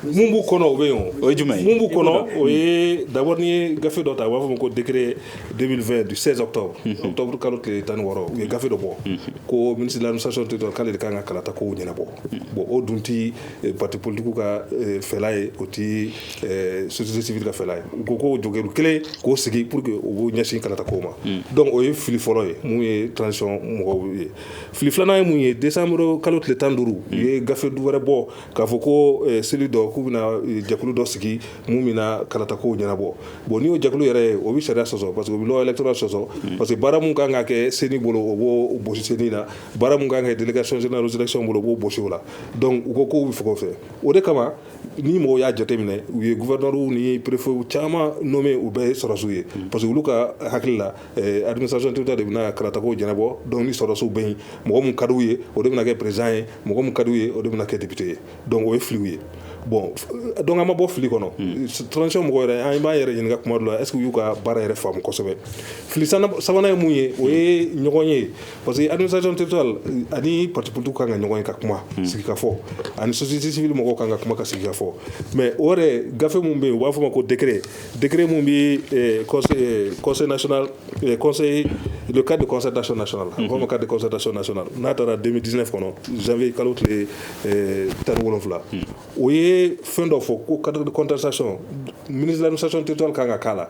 mun b'u kɔnɔ o bɛ yen o ye jumɛn ye mun b'u kɔnɔ o ye d'abord n'i ye gafe dɔ ta u b'a fɔ ko décret 2020 du 16 octobre octobre kalo tile tan ni wɔɔrɔ u ye gafe dɔ bɔ ko ministre de l'administration territoriale k'ale de kan ka kalata kow ɲɛnabɔ bon o dun ti parti politique ka fɛla ye o ti société civile ka fɛla ye u ko ko jɛkulu kelen k'o sigi pour que u b'o ɲɛsin kalata ko ma donc o ye fili fɔlɔ ye n'u ye transition mɔgɔw ye fili filanan ye mun ye décembre kalo tile tan ni duuru u ye gafe dɔ wɛrɛ bɔ k'a fɔ ko cellule dɔ k'u bɛna jɛkulu dɔ sigi min bɛna kalata ko ɲɛnabɔ bon n'i y'o jɛkulu yɛrɛ ye o bɛ sariya sɔsɔ parce que o bɛ loi électorale sɔsɔ parce que baara min kan ka kɛ ceni bolo o b'o bɔsi ceni na baara min kan ka kɛ délégation générale aux élections bolo o b'o bɔsi o la donc u ko k'u bɛ fɛ o de kama ni mɔgɔw y'a jateminɛ u ye gouverneurw ni préfetw caman nommé u bɛɛ ye sɔrɔsiw ye hmm. parce que olu ka hakili la eh, administration territoriale de bɛna kalata kow ɲɛnabɔ donc ni sɔrɔsiw bɛ yen mɔgɔ min ka di u ye o de bɛna kɛ président ye mɔgɔ min ka di u ye o de bɛna kɛ député ye donc o ye filiw ye bon donc an ma bɔ fili kɔnɔ hmm. transition mɔgɔ yɛrɛ an b'an yɛrɛ ɲininka kuma dɔ la est ce que u y'u ka baara yɛrɛ faamu kosɛbɛ fili sabanan ye mun ye o ye ɲɔgɔn ye parce que administration territoriale ani parti politique kan ka ɲɔgɔn ye ka kuma hmm. sigi ka fɔ ani société civile mɔgɔw kan ka kuma ka sigi ka fɔ mais o yɛrɛ gafe mun bɛ yen u b'a fɔ ma ko décret décret mun bɛ eh, conseil eh, conseil national eh, conseil le cadre de concertation nationale a bɛ fɔ ma cadre de concertation nationale n'a tara 2019 kɔnɔ janvier kalo tile tan ni wolonwula hmm. o ye fɛn dɔ fɔ ko cadre de concertation ministre de l'administration territoriale kan ka k'a la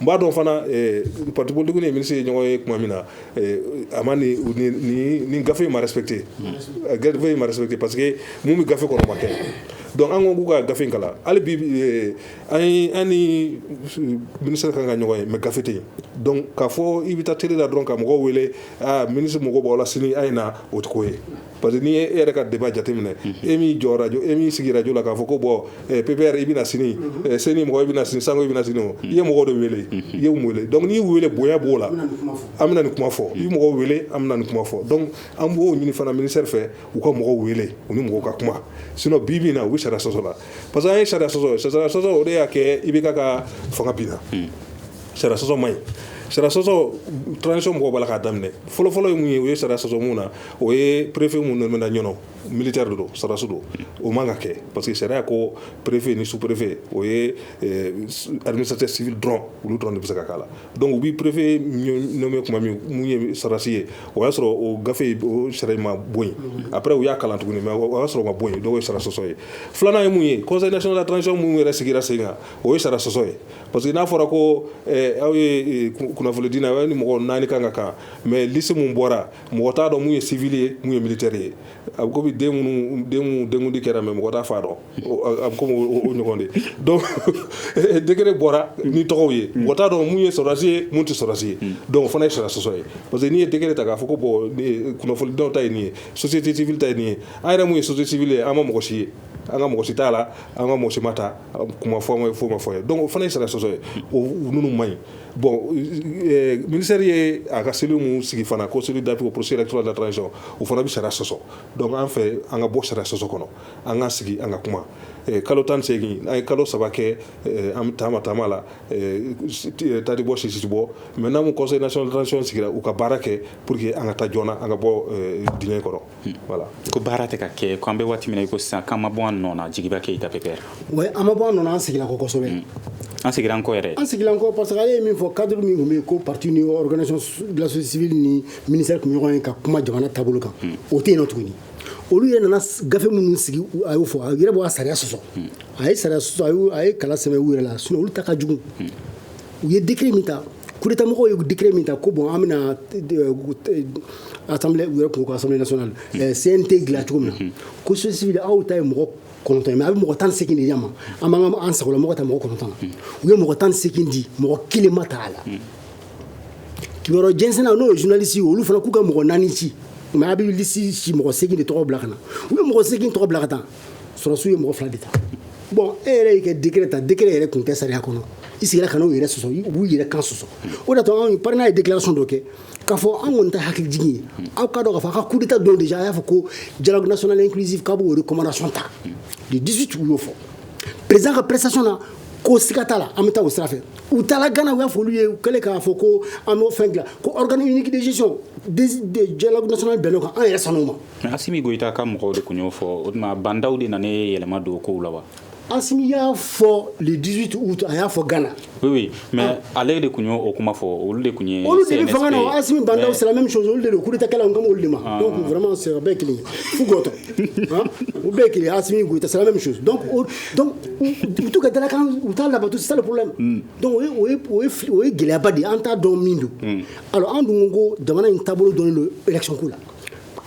n b'a dɔn fana eh, parti politique ni ministre ye ɲɔgɔn ye tuma min na eh, a ma ni gafe in ma respecté eh, gafe in ma respecté parce que mun bɛ gafe kɔnɔ ma kɛ donc an ko k'u ka gafe in kalan hali bi an ni ministre kan ka ɲɔgɔn ye mais gafe tɛ yen donc k'a fɔ i bɛ taa télé la dɔrɔn ka mɔgɔw wele ah, ministre mako b'aw la sini a ye na o tɛ ko ye parce que n'i e yɛrɛ ka débat jateminɛ e min jɔ radio e min sigi radio la k'a fɔ ko bon eh, PPR i bɛna sini eh, CNID mɔgɔ i bɛna sini sango i bɛna sini o i ye mɔgɔ de wele i ye mɔgɔ wele donc n'i wele bonya b'o la an bɛna nin kuma fɔ i ye mɔgɔ wele an bɛna nin kuma fɔ donc an b'o ɲini fana ministère fɛ u ka mɔgɔw wele u ni mɔgɔw ka kuma sinon bi bi na u bɛ sariya sɔsɔ la parce que a ye sariya sɔsɔ sariya sɔsɔ o de y'a kɛ IBK ka fanga binna sariya sɔsɔ man ɲi sariya sɔsɔ transition mɔgɔ b'a la k'a daminɛ fɔlɔfɔlɔ ye mun ye u ye sariya sɔsɔ mun na o ye préfet minnu nommena ɲɔgɔn militaire de don sariya sɔsɔ don o man kan ka kɛ parce que sariya ko préfet ni sous-préfet o ye administrateur civil dɔrɔn olu dɔrɔn de bɛ se ka k'a la donc u bɛ préfet nommer tuma min minnu ye sɔrɔdasi ye o y'a sɔrɔ o gafe sariya ma bɔ yen après u y'a kalan tuguni mais o y'a sɔrɔ ma bɔ yen donc o ye sariya sɔsɔ ye filanan ye mun ye conseil national de la transition minnu yɛrɛ sigira sen kan o ye sariya sɔsɔ ye parce que n'a fɔra ko aw ye kunnafonidinaw aw ni mɔgɔ naani kan ka kan mais liste min bɔra mɔgɔ t'a dɔn mun ye civil ye mun ye militaire ye a bɛ komi den minnu den denkundi kɛra mais mɔgɔ t'a fa dɔn a bɛ komi o ɲɔgɔn de don décret bɔra ni tɔgɔw ye mɔgɔ t'a dɔn mun ye sɔrɔdasi ye mun tɛ sɔrɔdasi ye donc o fana ye sariya sɔsɔ ye parce que n'i ye décret ta k'a fɔ ko bon kunnafonidilaw ta ye nin ye société civile ta ye nin ye a yira mun ye société civile ye an ma mɔgɔ si ye an ka mɔgɔ si t'a la an ka mɔgɔ si ma ta kuma fɔ ma ye fɔ ma fɔ ye donc o fana ye sariya sɔsɔ ye o ninnu man ɲi Bon minisari ye a ka seli minnu sigi fana ko seli dacogo psi cogoya cogo la dɔrɔn sɔrɔ u fana bɛ sara sɔsɔ dɔnku an fɛ an ka bɔ sara sɔsɔ kɔnɔ an ka sigi an ka kuma kalo tan segin an ye kalo saba kɛ an bɛ taama taama la tati bɔ sisibɔ mɛ n'an kɔsɔn sigira u ka baara kɛ pur que an ka taa jɔn an ka bɔ d kɔrɔ voilà ko baara tɛ ka kɛ ko an bɛ waati min na ko sisan k'an ma bɔ an nɔ na Djiguiba Keïta PPR oui an ma bɔ an nɔ na an sigila kɔ kosɛbɛ mm. an sigira an kɔ yɛrɛ an sigira an kɔ parce que ale ye min fɔ cadre min tun bɛ yen ko parti ni organisation de la société civile ni ministère tun bɛ ɲɔgɔn ye ka kuma jamana taabolo kan mm. o tɛ yen nɔ tuguni olu yɛrɛ nana gafe minnu sigi a y'o fɔ a yɛrɛ bɔ a sariya sɔsɔ mm. a ye sariya sɔsɔ a ye kala sɛmɛ u yɛrɛ la sinon olu ta ka jugu u ye décret min ta coup d'état mɔgɔw ye décret min ta ko bon an bɛna assemblée u yɛrɛ ko assemblée nationale CNT dilan cogo min na ko société civile aw ta ye mɔgɔ kɔnɔntɔn mais a bɛ mɔgɔ tan segin di an ma an b'an sagola mɔgɔ ta mɔgɔ kɔnɔntɔn u ye mɔgɔ tan segin di mɔgɔ kelen ma ta a la kibaru jɛnsɛnnaw n'o ye journalistes olu fana k'u ka mɔgɔ naani ci mais a bɛ liste ci mɔgɔ segin de tɔgɔ bila ka na u ye mɔgɔ segin tɔgɔ bila ka taa sɔrɔdasiw ye mɔgɔ fila de ta bon e yɛrɛ y'i ka décret ta décret yɛrɛ tun tɛ sariya kɔnɔ i sigira ka n'u yɛrɛ sɔsɔ u b'u yɛrɛ kan sɔsɔ o de y'a to anw PARENA ye déclaration dɔ kɛ k'a fɔ an kɔni ta ye hakilijigin ye aw k'a dɔn k'a fɔ a ka coup d'état don déjà a y'a fɔ ko dialogue national inclusif k'a b'o recommandation ta le 18 u y'o fɔ président ka prestation na ko siga t'a la an bɛ taa o sira fɛ u taara Ghana u y'a fɔ olu ye u kɛlen k'a fɔ ko an b'o fɛn dilan ko organe unique de gestion dialogue national bɛnn'o kan an yɛrɛ sɔnn'o ma Mɛ asi min goyita ka mɔgɔw de tun y'o fɔ o tuma bandaw de nana ye yɛlɛma don kow la wa asi y'a fɔ ledi a y'a fɔ gana mɛ ale de tun y' o kuma fɔ olu de tun ye olu de asi banw sira min olu de kulu tɛ kelen kɔmi de mama sera bɛɛ kelen fu u bɛɛ kelen asi gte sira min misi tu ka dalakan u taa labantu saliku la o ye gɛlɛyaba de an t' dɔn min don an dun ko jamana in taabolo don don ecku la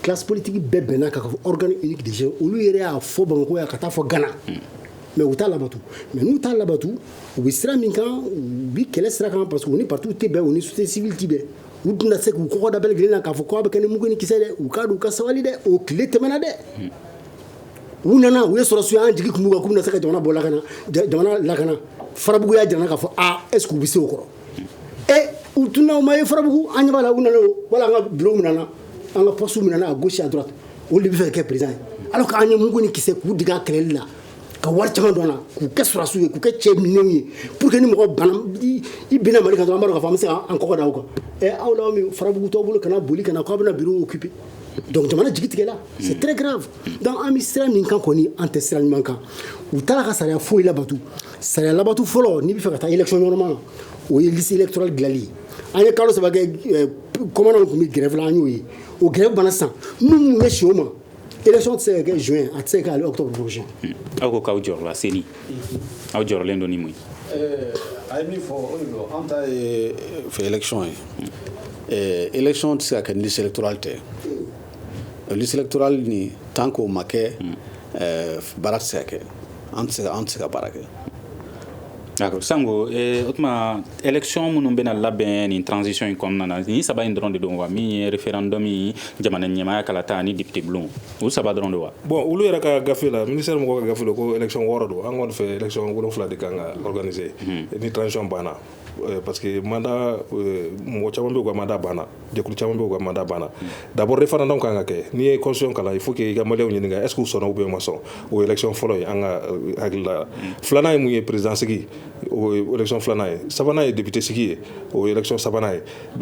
classe politique bɛɛ bɛnna ka fɔ organe unique déjà olu yɛrɛ y'a fɔ Bamakɔ yan ka taa fɔ Ghana mais u t'a labato mais n'u t'a labato u bɛ sira min kan u bɛ kɛlɛ sira kan parce que u ni partiw tɛ bɛn u ni société civile tɛ bɛn u tɛna se k'u kɔkɔ da bɛɛ lajɛlen na k'a fɔ k'a bɛ kɛ ni mugu ni kisɛ dɛ u k'a dɔn u ka sabali dɛ o tile tɛmɛna dɛ u nana u ye sɔrɔdasiw ye an jigi tun b'u kan k'u bɛna se ka jamana bɔ lakana jamana lakana Farabugu y'a jira an na k'a fɔ a est ce que u bɛ se o kɔrɔ ɛ u tun na u ma ye Farabugu an ɲɛ b'a la u nana wala an ka bureau minɛna an ka postew minɛna à gauche à droite olu de bɛ fɛ ka kɛ président ye alors que an ye mugu ni kisɛ k'u dege a kɛlɛli la ka wari caman don a la k'u kɛ sɔrɔdasiw ye k'u kɛ cɛ minɛnw ye pour que ni mɔgɔ bana i binna Mali kan dɔrɔn an b'a dɔn k'a fɔ an bɛ se k'an kɔkɔ da aw kan ɛ aw la min Farabugu t'aw bolo ka na boli ka na k'aw bɛna bureau occuper donc jamana jigi tigɛla c'est très grave donc an bɛ sira min kan kɔni an tɛ sira ɲuman kan u t'a la ka sariya foyi labato Saya labantu fɔlɔ n'i bɛ fɛ ka taa yɛlɛcɔn ɲɔgɔnma na o ye lisi dɔrɔn dilanli an ye kalo saba kɔnw tun bɛ gɛrɛ an y'o ye o gɛrɛ bana san minnu bɛ si o ma ec se ka kɛ z a tɛ se k' aw ko k'aw jɔ seli aw jɔyɔrɔlen dɔ mun a ye min fɔ an ta fɛcɔn ye ec tɛ se ka kɛ ni selitura dɔrɔn tɛ li selitura ni tan k'o ma kɛ baara tɛ se kɛ an tɛ se ka baara kɛ d'accord sanko o tuma élection minnu bɛna labɛn nin transition in kɔnɔna na ni saba in dɔrɔn de don wa min ye référendum ye jamana ɲɛmaya kalata ni député bulon olu saba dɔrɔn de wa bon olu yɛrɛ ka gafe la ministère mɔgɔw ka gafe la ko élection wɔɔrɔ don an kɔni fɛ élection wolonwula de kan ka organiser ni transition banna Euh, parce que mandat euh, mɔgɔ caman bɛ u ka mandat banna jɛkulu caman bɛ u ka mandat banna d'abord référendum kan ka kɛ n'i ye constitution kalan il faut que i ka maliyɛnw ɲininka est ce que u sɔnna ou bien u ma sɔn o élection fɔlɔ ye an ka euh, hakili la filanan ye mun ye président sigi o élection filanan ye sabanan ye député sigi ye o élection sabanan ye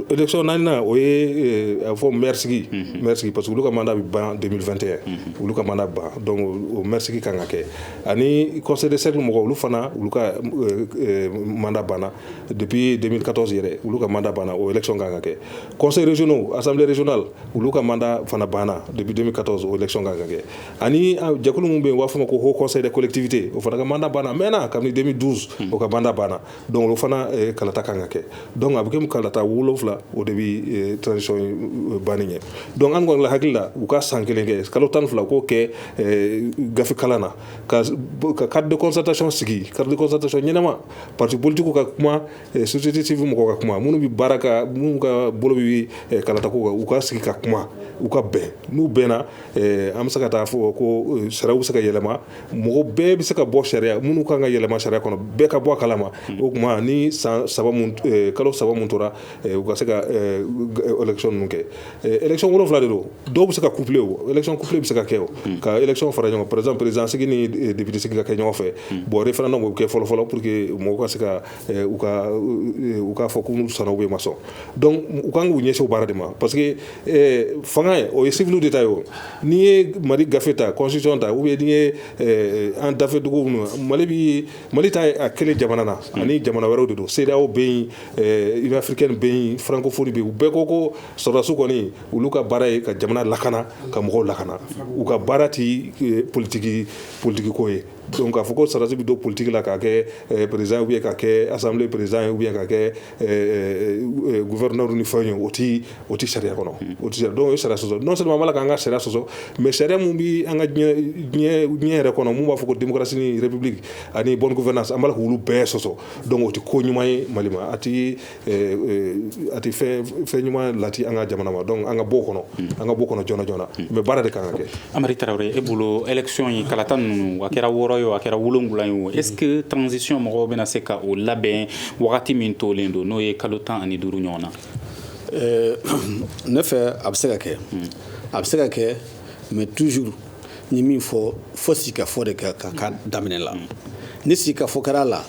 Élection naaninan o ye a bɛ fɔ maire sigi, unhun, maire sigi parce que olu ka mandat bɛ ban 2021 olu ka mandat bɛ ban donc o maire sigi kan ka kɛ ani conseil de cercle mɔgɔw olu fana olu ka mandat banna depuis 2014 yɛrɛ olu ka mandat banna o élection kan ka kɛ conseils régionaux, assemblée régionale olu ka mandat fana banna depuis 2014 o élection kan ka kɛ ani jɛkulu min bɛ yen u b'a fɔ o ma ko haut conseil des collectivités o fana ka mandat banna a mɛɛnna kabini 2012 o ka mandat banna donc o fana eh, kalata kan ka kɛ donc a bɛ kɛ kalata wolonfila o de bɛ eh, transition eh, banni ɲɛ donc an kɔni la hakili la u ka san kelen kɛ kalo tan ni fila k'o kɛ gafe kalan na ka ka cadre de concertation sigi cadre de concertation ɲɛnama parti politikiw ka kuma société civile mɔgɔw ka kuma minnu bɛ baara kɛ minnu ka bolo bɛ kalata ko kan u ka sigi ka kuma u ka bɛn n'u bɛnna an bɛ se ka taa fɔ ko sariyaw bɛ se ka yɛlɛma mɔgɔ bɛɛ bɛ se ka bɔ sariya minnu kan ka yɛlɛma sariya kɔnɔ bɛɛ ka bɔ a kalama hmm. o tuma ni san saba eh, kalo saba min tora eh, u ka se ka eh, élection ninnu kɛ élection wolonwula de don dɔw bɛ se ka couplé o élection couplé bɛ se ka kɛ o hmm. ka élection fara ɲɔgɔn par exemple président sigi ni député sigi ka kɛ ɲɔgɔn fɛ hmm. bon référendum o bɛ kɛ fɔlɔfɔlɔ pour que mɔgɔw ka se ka Eh, u ka eh, u k'a fɔ ko n'u sɔnna ou bien u ma sɔn donc u kan k'u ɲɛsin o baara de ma parce que eh, fanga ye o ye civiliw de ta ye o n'i ye mali gafe ta constitution ta ou bien n'i ye an dafɛ dugu minnu mali bi mali t'a kelen jamana na hmm. ani jamana wɛrɛw de don CEDEAO bɛ yen union africaine bɛ yen francophonie bɛ yen u bɛɛ ko ko sɔrɔdasiw kɔni olu ka baara ye ka jamana lakana ka mɔgɔw lakana u ka baara ti politiki politiki ko ye Don k'a fɔ ko saralasi bɛ don politigi la ka kɛ perez ye ka kɛ asa perez ye ka kɛ vɛ ni fɛn ye o tɛ o tɛ sariya kɔnɔ o tɛ dɔw ye sara sɔsɔ n' sɔrɔ b'a k'an ka sariya sɔsɔ mɛ sariya min bɛ an ka diɲɛ yɛrɛ kɔnɔ min b'a fɔ ko denrasi yɛrɛbi ani bɔn fana san' olu bɛɛ sɔsɔ dɔn o tɛ ko ɲuman ye mali a a tɛ fɛn ɲuman lati an ka jamana ma donc an ka bɔ o kɔnɔ mm. an ka bɔ o kɔnɔ joona joona mm. mais baara de ka kan ka kɛ amari tarawele e bolo élection ye kalata ninnu a kɛra wɔɔrɔ ye a kɛra wolonwula ye o est-ce que mm. transition mɔgɔw bɛna se ka o labɛn wagati min tolen don n'o ye kalo tan ani duuru ɲɔgɔn na ne fɛ a bɛ se ka kɛ a bɛ se ka kɛ mais toujours n' ye min fɔ fo sigikafɔ de ka kan ka daminɛ la ni sigikafɔ kɛra la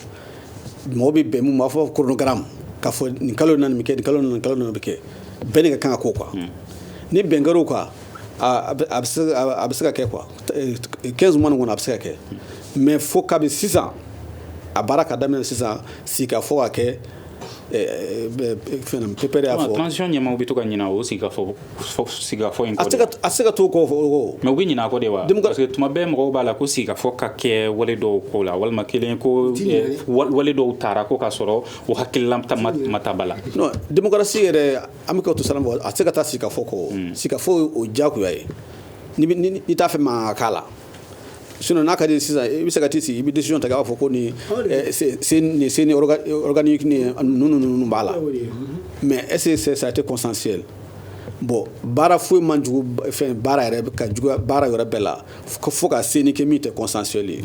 mɔgɔ bɛ bɛn mun b'a fɔ chronogramme k'a fɔ nin kalo in na nin bɛ kɛ nin kalo in na nin kalo in na nin bɛ kɛ bɛn de ka kan ka k'o kan ni bɛn kɛr'o kan a bɛ a bɛ se a bɛ se ka kɛ quoi 15 mois nin kɔnɔ a bɛ se ka kɛ mais fo kabi sisan a baara ka daminɛ sisan sigikafɔ ka kɛ fɛn pépère y'a fɔ transition ɲɛmaaw bɛ to ka ɲinɛ o sigikafɔ sigikafɔ in kɔ de a se ka t'o kɔ o mais u bɛ ɲinɛ a kɔ de wa parce que tuma bɛɛ mɔgɔw b'a la ko sigikafɔ ka kɛ wale dɔw ko la walima kelen ko wale dɔw tara ko ka sɔrɔ u hakilila ma ta ba la non démocratie yɛrɛ an bɛ ka to siran a tɛ se ka taa sigikafɔ kɔ sigikafɔ o ye diyagoya ye n'i t'a fɛ mankan ka k'a la n'a ka di sisan i bɛ se ka t'i sigi i bɛ décision ta k'a fɔ ko nin CENI organe nin ninnu b'a la mais est-ce que ça a été consensuel bon baara foyi man jugu fɛn baara yɛrɛ ka jugu baara yɛrɛ bɛɛ la fo ka CENI kɛ min tɛ consensuel ye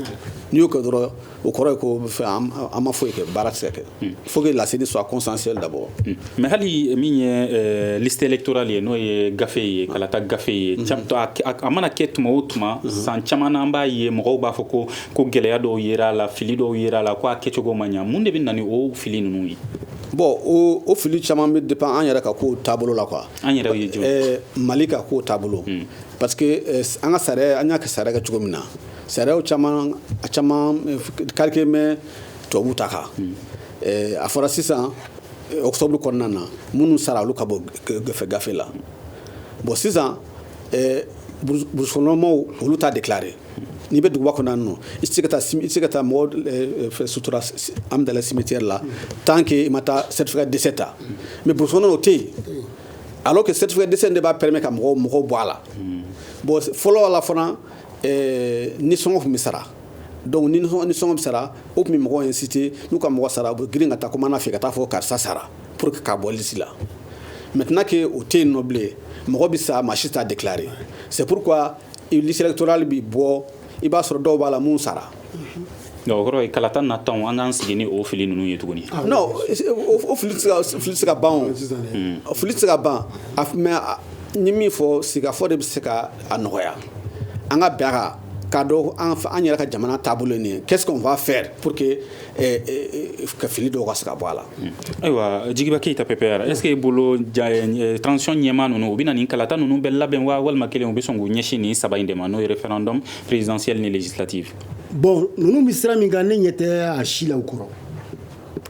n'i y'o kɛ dɔrɔn o kɔrɔ ye ko fɛn an ma foyi kɛ baara tɛ se ka kɛ il faut que la CENI soit consensuelle d'abord mais hali min ye liste électorale ye n'o ye gafe ye kalata gafe ye a mana kɛ tuma o tuma san caman na an b'a ye mɔgɔw b'a fɔ ko gɛlɛya dɔw yera a la fili dɔw yera a la ko a kɛcogo ma ɲɛ mun de bɛ na ni o fili ninnu ye bon o fili caman bɛ dépend an yɛrɛ ka ko taabolo la quoi an yɛrɛ ye mali ka ko taabolo parce que an ka sariya an y'an ka sariya kɛ cogo min na Sariyaw caman a caman calqué mɛn tubabu ta kan a fɔra sisan octobre kɔnɔna na minnu sara olu ka bɔ gafe gafe la bon sisan burusi kɔnɔmɔgɔw olu t'a déclarer n'i bɛ duguba kɔnɔna na i tɛ se ka taa mɔgɔ sutura an bɛ cimetière la tant que i ma taa certificat de décès ta mais brousse o tɛ yen alors que certificat de décès de b'a permet ka mɔgɔw mɔgɔw bɔ a la bon fɔlɔ la fana nisɔngɔ tun bɛ sara donc ni nisɔngɔ bɛ sara o tun bɛ mɔgɔ inciter n'u ka mɔgɔ sara u bɛ girin ka taa commandant fɛ ka taa fɔ karisa sara pour que k'a bɔ liste la maintenant que o tɛ yen nɔ bilen mɔgɔ bɛ sa maa si t'a déclarer c'est pourquoi liste électorale bɛ bɔ i b'a sɔrɔ dɔw b'a la min sara O kɔrɔ kalata nataw an k'an sigi ni o fili ninnu ye tuguni fili tɛ se ka ban fili tɛ se ka ban mais n ye min fɔ sigikafɔ de bɛ se ka a nɔgɔya an ka bɛn a kan k'a dɔn an yɛrɛ ka jamana taabolo ye nin ye qu'est ce qu'on va faire pour que ka fili dɔw ka se ka bɔ a la ayiwa jigiba keyita PPR est ce que e bolo transition ɲɛmaa ninnu u bɛna nin kalata ninnu bɛɛ labɛn wa walima kelen u bɛ sɔn k'u ɲɛsin nin saba in de ma n'o ye référendum présidentielle ni législative bon ninnu bɛ sira min kan ne ɲɛ tɛ a si la u kɔrɔ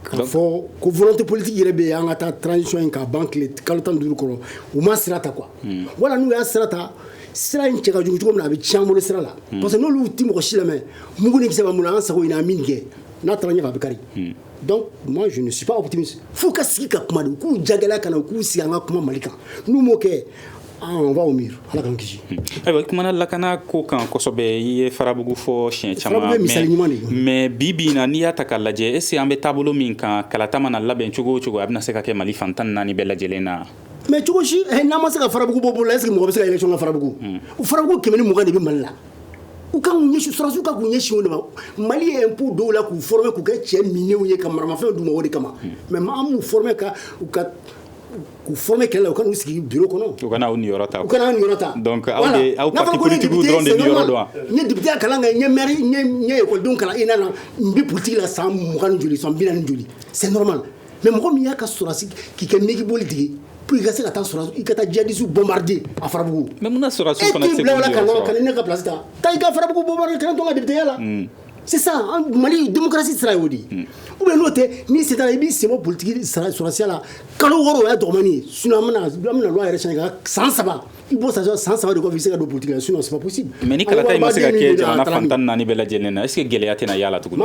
k'a fɔ ko volonté politique yɛrɛ bɛ yen an ka taa transition in ka ban tile kalo tan ni duuru kɔrɔ u ma sira ta quoi hmm. wala n'u y'a sira ta sira in cɛ ka jugu cogo min na a bɛ tiɲɛ an bolo sira la hmm. parce que n'olu tɛ mɔgɔ si lamɛn mugu ni kisɛ b'an bolo an sago ɲini an min kɛ n'a taara ɲɛfɛ a bɛ kari hmm. donc moi je ne suis pas optimiste f'u ka sigi ka kuma de u k'u jagɛlɛya ka na u k'u sigi an ka kuma mali kan n'u m'o kɛ ah, on va au mur ala k'an kisi ayiwa i kumana lakana ko kan kosɛbɛ i ye farabugu fɔ siɲɛ caman mais bi bi in na n'i y'a ta k'a lajɛ est ce que an bɛ taabolo min kan kalata mana labɛn cogo o cogo a bɛna se ka kɛ mali fan tan naani bɛɛ lajɛlen na mais cogo si eh, n'an ma se ka farabugu bɔ bolo la est ce que mɔgɔ bɛ se ka élection kɛ farabugu hmm. farabugu kɛmɛ ni mugan de bɛ mali la u k'u ɲɛsin sɔrɔsiw ka k'u ɲɛsin o de ma mali ye impôt don u la k'u former k'u kɛ cɛ minɛnw ye ka maramafɛnw d'u ma o de kama hmm. mais maa m'u former ka u ka k'u former kɛlɛ la u ka n'u sigi bureau kɔnɔ u kana aw niyɔrɔ ta u kana aw niyɔrɔ ta donc aw de aw parti politique dɔrɔn de niyɔrɔ don wa n ye député ya kalan kɛ n ye maire n ye n ye école denw kalan ENA na n bɛ politique la san mugan ni joli san bi naani joli c'est normal mɛ mɔgɔ min y'a ka sɔrɔsi k'i kɛ nɛgɛgeboli tigɛ p i ka se ka taa i ka taa jadisu bɔnbaridi a farabugu ka ne ka bilasi ta taa i ka farabugu bɔ kelen tɔgɔ deya la sisan mali denmusosi sira o di u bɛ n'o tɛ ni sera i b'i se politigi sɔrɔsiya la kalo wɔɔrɔ o ye dɔgɔnin sun yɛrɛ ka san saba I b'o sɔrɔ san saba de kɔ i bɛ se ka don politique la sinon c'est pas possible mais ni kalata in ma se ka kɛ jamana fan tan ni naani bɛɛ lajɛlen na est ce que gɛlɛya tɛna y'a la tuguni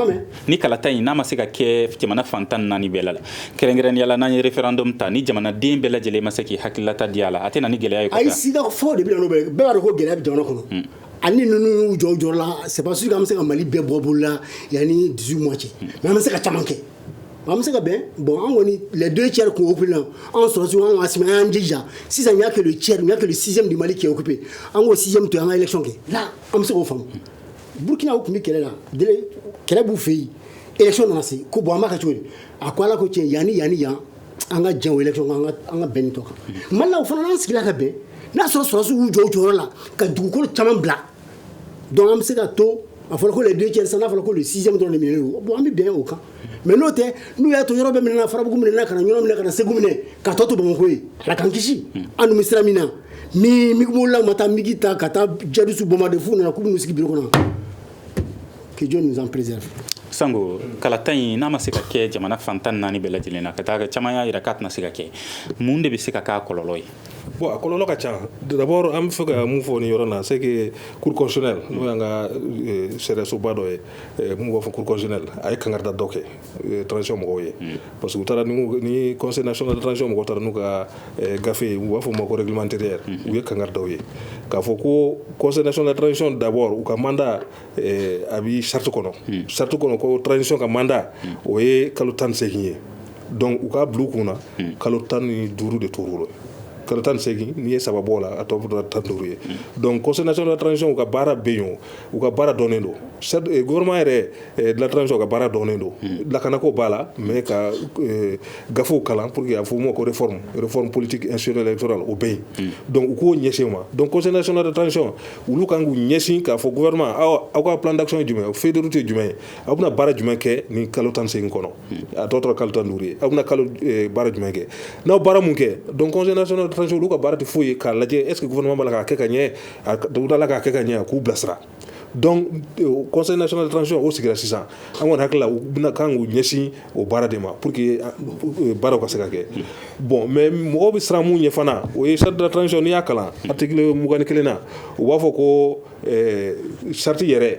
ni kalata in n'a ma se ka kɛ jamana fan tan ni naani bɛɛ la kɛrɛnkɛrɛnnenya la n'an ye referendum ta ni jamanaden bɛɛ lajɛlen ma se k'i hakililata di a la a tɛ na ni gɛlɛya ye ayi sida fɔ de bɛ na n'o bɛɛ b'a dɔn ko gɛlɛya bɛ jamana kɔnɔ hmm. ani ninnu y'u jɔ u jɔyɔrɔ la c'est pas sûr que an bɛ se ka mali bɛɛ bɔ bolo la yanni 18 mois cɛ hmm. mais an bɛ se ka caman kɛ an bɛ se ka bɛn bon an kɔni les deux tiers tun occupé là an sɔrɔsiw an ka sima an jija sisan y a que le tiers n'y a que le sixième du mali qui est occupé an k'o sixième to an ka élection kɛ an bɛ se k'o faamu burukinaw tun bɛ kɛlɛ la kɛlɛ b'u fɛ yen élection nana se ko bon an b'a kɛ cogo di a ko ala ko tiɲɛ yan ani yan ani yan an ka jɛn élection an ka bɛn tɔ kan mali o fana n'an sigila ka bɛn n'a sɔrɔ sɔrɔsiw y'u jɔ jɔyɔrɔ la ka dugukolo caman bila donc an bɛ se ka to a fɔra ko les deux tiers n'a fɔra ko le sixième dɔrɔn de minɛlen don bon an bɛ bɛn o kan mais n'o tɛ n'u y'a to yɔrɔ bɛɛ minɛna farabugu minɛna ka na ɲɔnɔ minɛ ka na segu minɛ ka tɔ to bamakɔ ye ala k'an kisi an bɛ sira min na ni migibolilaw ma taa migi ta ka taa djihadistes bombarder f'u nana k'u bɛ n'u sigi biro kɔnɔ que Dieu nous en préserve sango kalata in n'a ma se ka kɛ jamana fan tan naani bɛɛ lajɛlen na ka taa caman y'a jira k'a tɛna se ka kɛ mun de bɛ se ka k'a kɔlɔlɔ ye Bon a kɔlɔlɔ ka ca dabɔ an bɛ fɛ ka mun fɔ ni yɔrɔ na se kurukɔsɛɛ n'o y' ka sariyasoba dɔ ye min b'a fɔ kurukɔsɛɛ a ye kangada dɔ kɛ tsi mɔgɔw ye parce que taara ni kɔsɔ tsi mɔgɔ taara n'u ka gafe u b'a fɔ ma koɔrilimantɛ yɛrɛ u ye kanga dɔw ye k'a fɔ ko kɔsɔconc dabɔ u ka manda a bɛ sati kɔnɔ sati kɔnɔ ko tsɔn ka manda o ye kalo tan nisegin ye donc u k'a bila u kun na hmm. kalo tan ni duuru de tor'u la kalo tan segin n'i ye saba bɔ la a tɔ bɛ tan duuru ye donc conseil national de transition ka baara bɛ yen u ka baara dɔnnen don eh, gouvernement yɛrɛ de la transition ka baara dɔnnen don hmm. lakanako b'a la mais ka eh, gafew kalan pour que a f'o ma ko réforme réforme politique institutionnelle électorale o bɛ yen hmm. donc u k'u ɲɛsin o ma donc conseil national de transition olu kan k'u ɲɛsin k'a fɔ gouvernement aw ka plan d'action ye jumɛn ye feuille de route ye jumɛn ye aw bɛna baara jumɛn kɛ nin kalo tan segin kɔnɔ a tɔ tora kalo tan duuru ye aw bɛna kalo eh, baara jumɛn kɛ n'aw baara mun kɛ donc conseil national de transition olu ka baara tɛ foyi ye k'a lajɛ est ce que gouvernement b'a la k'a kɛ ka ɲɛ a dawuda la k'a kɛ ka ɲɛ a k'u bilasira donc eh, conseil national de transition o sigira sisan an kɔni hakili la u bɛna kan k'u ɲɛsin o baara de ma pour que eh, eh, baaraw ka se ka kɛ bon mais mɔgɔw bɛ siran mun ɲɛ fana o ye charte de la transition n'i y'a kalan article mugan ni kelen na u b'a fɔ ko charte yɛrɛ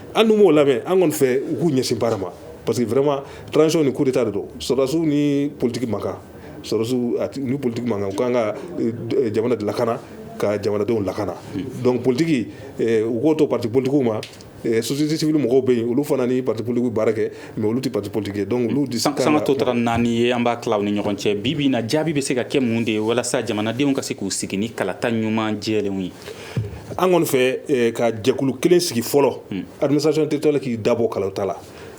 an dun m'o lamɛn an kɔni fɛ u k'u ɲɛsin baara ma parce que vraiment transition ni coup d'état de don sɔrɔdasiw ni politique man kan sɔrɔdasiw a ni politique man kan u ka kan ka jamana de lakana ka jamanadenw lakana donc politique u k'o to parti politiquew ma société civile mɔgɔw bɛ yen olu fana ni parti politique baara kɛ mais olu tɛ parti politique ye donc olu disi kan sanga tɔ tora naani ye an b'a tila u ni ɲɔgɔn cɛ bi bi in na jaabi bɛ se ka kɛ mun de ye walasa jamanadenw ka se k'u sigi ni kalata ɲuman jɛlenw ye an kɔni fɛ eh, ka jɛkulu kelen sigi fɔlɔ hmm. administration territoriale k'i dabɔ kalata la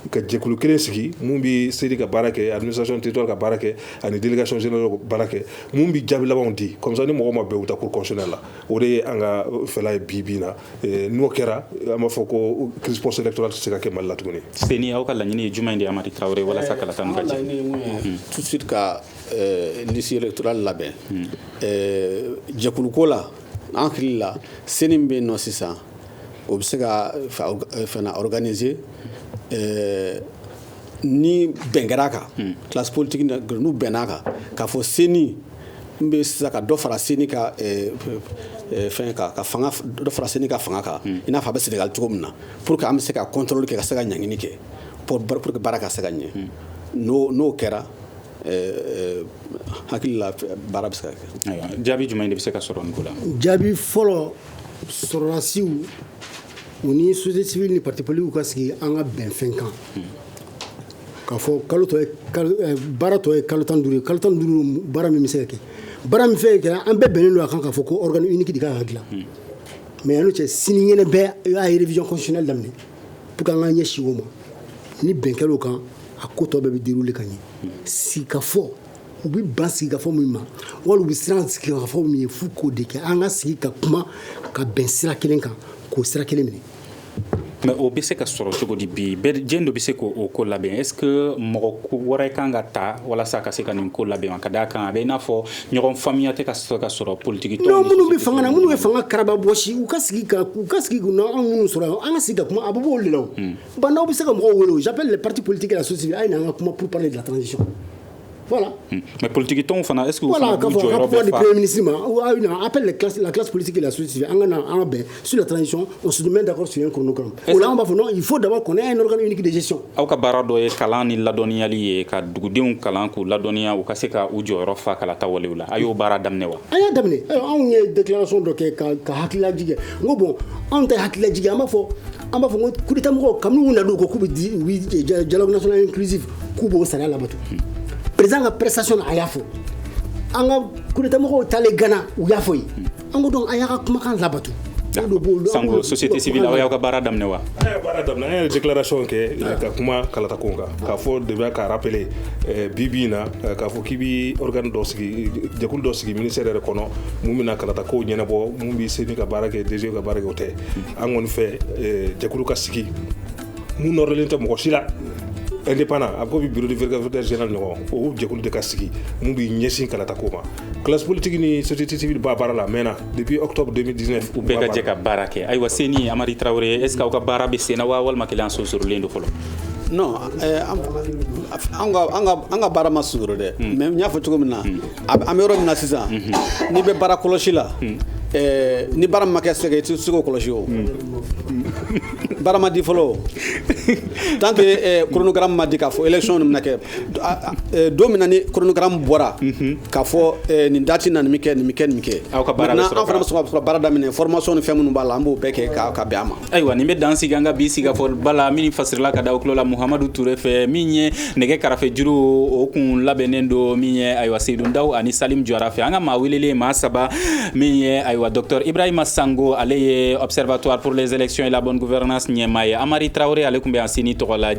ka jɛkulu kelen sigi mun bɛ CENI ka baara kɛ administration territoriale ka baara kɛ ani délégation générale ka baara kɛ mun bɛ jaabi labanw di comme ça ni mɔgɔ ma bɛn u taa cour constitutionnelle la o de ye an ka fɛla ye bi bi na eh, n'o kɛra an b'a fɔ ko crise post électorale tɛ se ka kɛ Mali la tuguni. CENI aw ka laɲini ye jumɛn de ye Amadi Traoré walasa eh, kalata ninnu ka jɛ? Laɲini ye mun ye tout de suite ka liste électorale labɛn jɛkuluko la. An hakili la CENI min bɛ yen nɔ sisan o bɛ se ka fɛn organiser ni bɛn kɛra a kan classe politique n'u bɛnna a kan k'a fɔ CENI min bɛ sisan ka dɔ fara CENI ka fɛn dɔ fara CENI ka fanga kan i n'a fɔ a bɛ Sénégal cogo min na pour que an bɛ se ka contrôle kɛ ka se ka ɲangili kɛ pour que baara ka se ka ɲɛ n'o kɛra Hakili la baara bɛ se ka kɛ jaabi jumɛn de bɛ se ka sɔrɔ nin ko la jaabi fɔlɔ sɔrɔdasiw u ni société civile ni parti politiquew ka sigi an ka bɛn fɛn kan k'a fɔ kalo baara tɔ ye kalo tan ni duuru ye kalo tan ni duuru baara min bɛ se ka kɛ baara min fɛn kɛ an bɛɛ bɛnnen don a kan k'a fɔ ko organe unique ka kan ka dilan mais yann'o cɛ sini ɲɛna bɛɛ a ye révision constitutionnelle daminɛ pour que an k'an ɲɛsin o ma ni bɛn kɛra o kan a ko tɔ bɛɛ bɛ dérouler ka ɲɛ sigikafɔ u bɛ ban sigikafɔ min ma wali u bɛ siran sigikafɔ min ye f'u k'o de kɛ an ka sigi ka kuma ka bɛn sira kelen kan k'o sira kelen minɛ mais o bɛ se ka sɔrɔ cogo di bi jɔn de bɛ se k'o ko labɛn est ce que mɔgɔ wɛrɛ kan ka ta walasa ka se ka nin ko labɛn wa ka d'a kan a bɛ i n'a fɔ ɲɔgɔn faamuya tɛ ka sɔrɔ ka sɔrɔ politique tɔnw non minnu bɛ fanga na minnu bɛ fanga karaba bɔsi u ka sigi ka u ka sigi na anw minnu sɔrɔ yan an ka sigi ka kuma a bɛ b'olu de la o hmm. Bah N'Daw bɛ se ka mɔgɔw wele o j'appelle les partis politiques et la société civile a ye na an ka kuma pour parler de la transition voilà hmm. mais politique tɔnw fana est ce que voilà ka fɔ ka kuma di premier ministre ma ou a ye na appelle les classes la classe politique et la société civile an ka na an ka bɛn sur la transition on se met d'accord sur un chronogramme o la an b'a fɔ non il faut d'abord qu'on ait un organe unique de gestion aw ka baara dɔ ye kalan ni ladɔnniyali ye ka dugudenw kalan k'u ladɔnniya u ka se ka u jɔyɔrɔ fa kalata walew la a y'o baara daminɛ wa an y'a daminɛ anw ye déclaration dɔ kɛ ka ka hakililajigin kɛ n ko bon anw ta hakililajigin kɛ an b'a fɔ an b'a fɔ ko coup d'état mɔgɔw kabini u nana u ko k'u bɛ dialogue national inclusif k'u b'o sariya labato président ka prestation na a y'a fɔ an ka coup d'état mɔgɔw taalen Ghana u y'a fɔ yen an ko donc a y'a ka kumakan labato sango société civile aw y'aw ka baara daminɛ wa an y'a baara daminɛ an ye déclaration kɛ ah. ka kuma kalata ko kan k'a fɔ de bɛ ka rappeler eh, bi bi in na eh, k'a fɔ k'i bi organe dɔ sigi jɛkulu dɔ sigi ministère yɛrɛ kɔnɔ mun bɛna kalata kow ɲɛnabɔ mun bi CENI ka baara kɛ DGE ka baara kɛ o tɛ hmm. an kɔni fɛ eh, jɛkulu ka sigi mun nɔrɔlen tɛ mɔgɔ si la indépendant a ko bi bureau de vérificateur général ɲɔgɔn o jɛkulu de ka sigi mun b'i ɲɛsin kalata ko ma classe politique ni société civile b'a baara la mɛnna depuis octobre 2019 u bɛɛ ka jɛ ka baara kɛ ayiwa CENI amari tarawele est ce que aw ka baara bɛ senna wa walima kelen sonsorolen don fɔlɔ non eh, an ka baara ma sonsoro dɛ hmm. mais n y'a fɔ cogo min na hmm. an bɛ yɔrɔ min na sisan hmm. n'i bɛ baara kɔlɔsi la eh, ni baara ma kɛ c'est que i tɛ se k'o kɔlɔsi o baara ma di fɔlɔ o tant que eh, chronogramme ma di k'a fɔ élection nin bɛna kɛ don min na ni chronogramme bɔra k'a fɔ nin date na nin bɛ kɛ nin bɛ kɛ nin bɛ kɛ an fana bɛ sɔrɔ ka baara daminɛ formation ni fɛn minnu b'a la an b'o bɛɛ kɛ ka bɛn a ma ayiwa nin bɛ dan sigi an ka bi sigikafɔba la min fasirila ka da aw tulo la muhamadu ture fɛ min ye nɛgɛ karafejuru o kun labɛnnen don min ye ayiwa seydou ndaw ani salim jara fɛ an ka maa welelen maa saba min ye ayiwa docteur ibrahima sango ale ye observatoire pour les élections et la bonne gouvernance ɲɛmaa ye amari tarawele ale tun bɛ yan CENI tɔgɔ la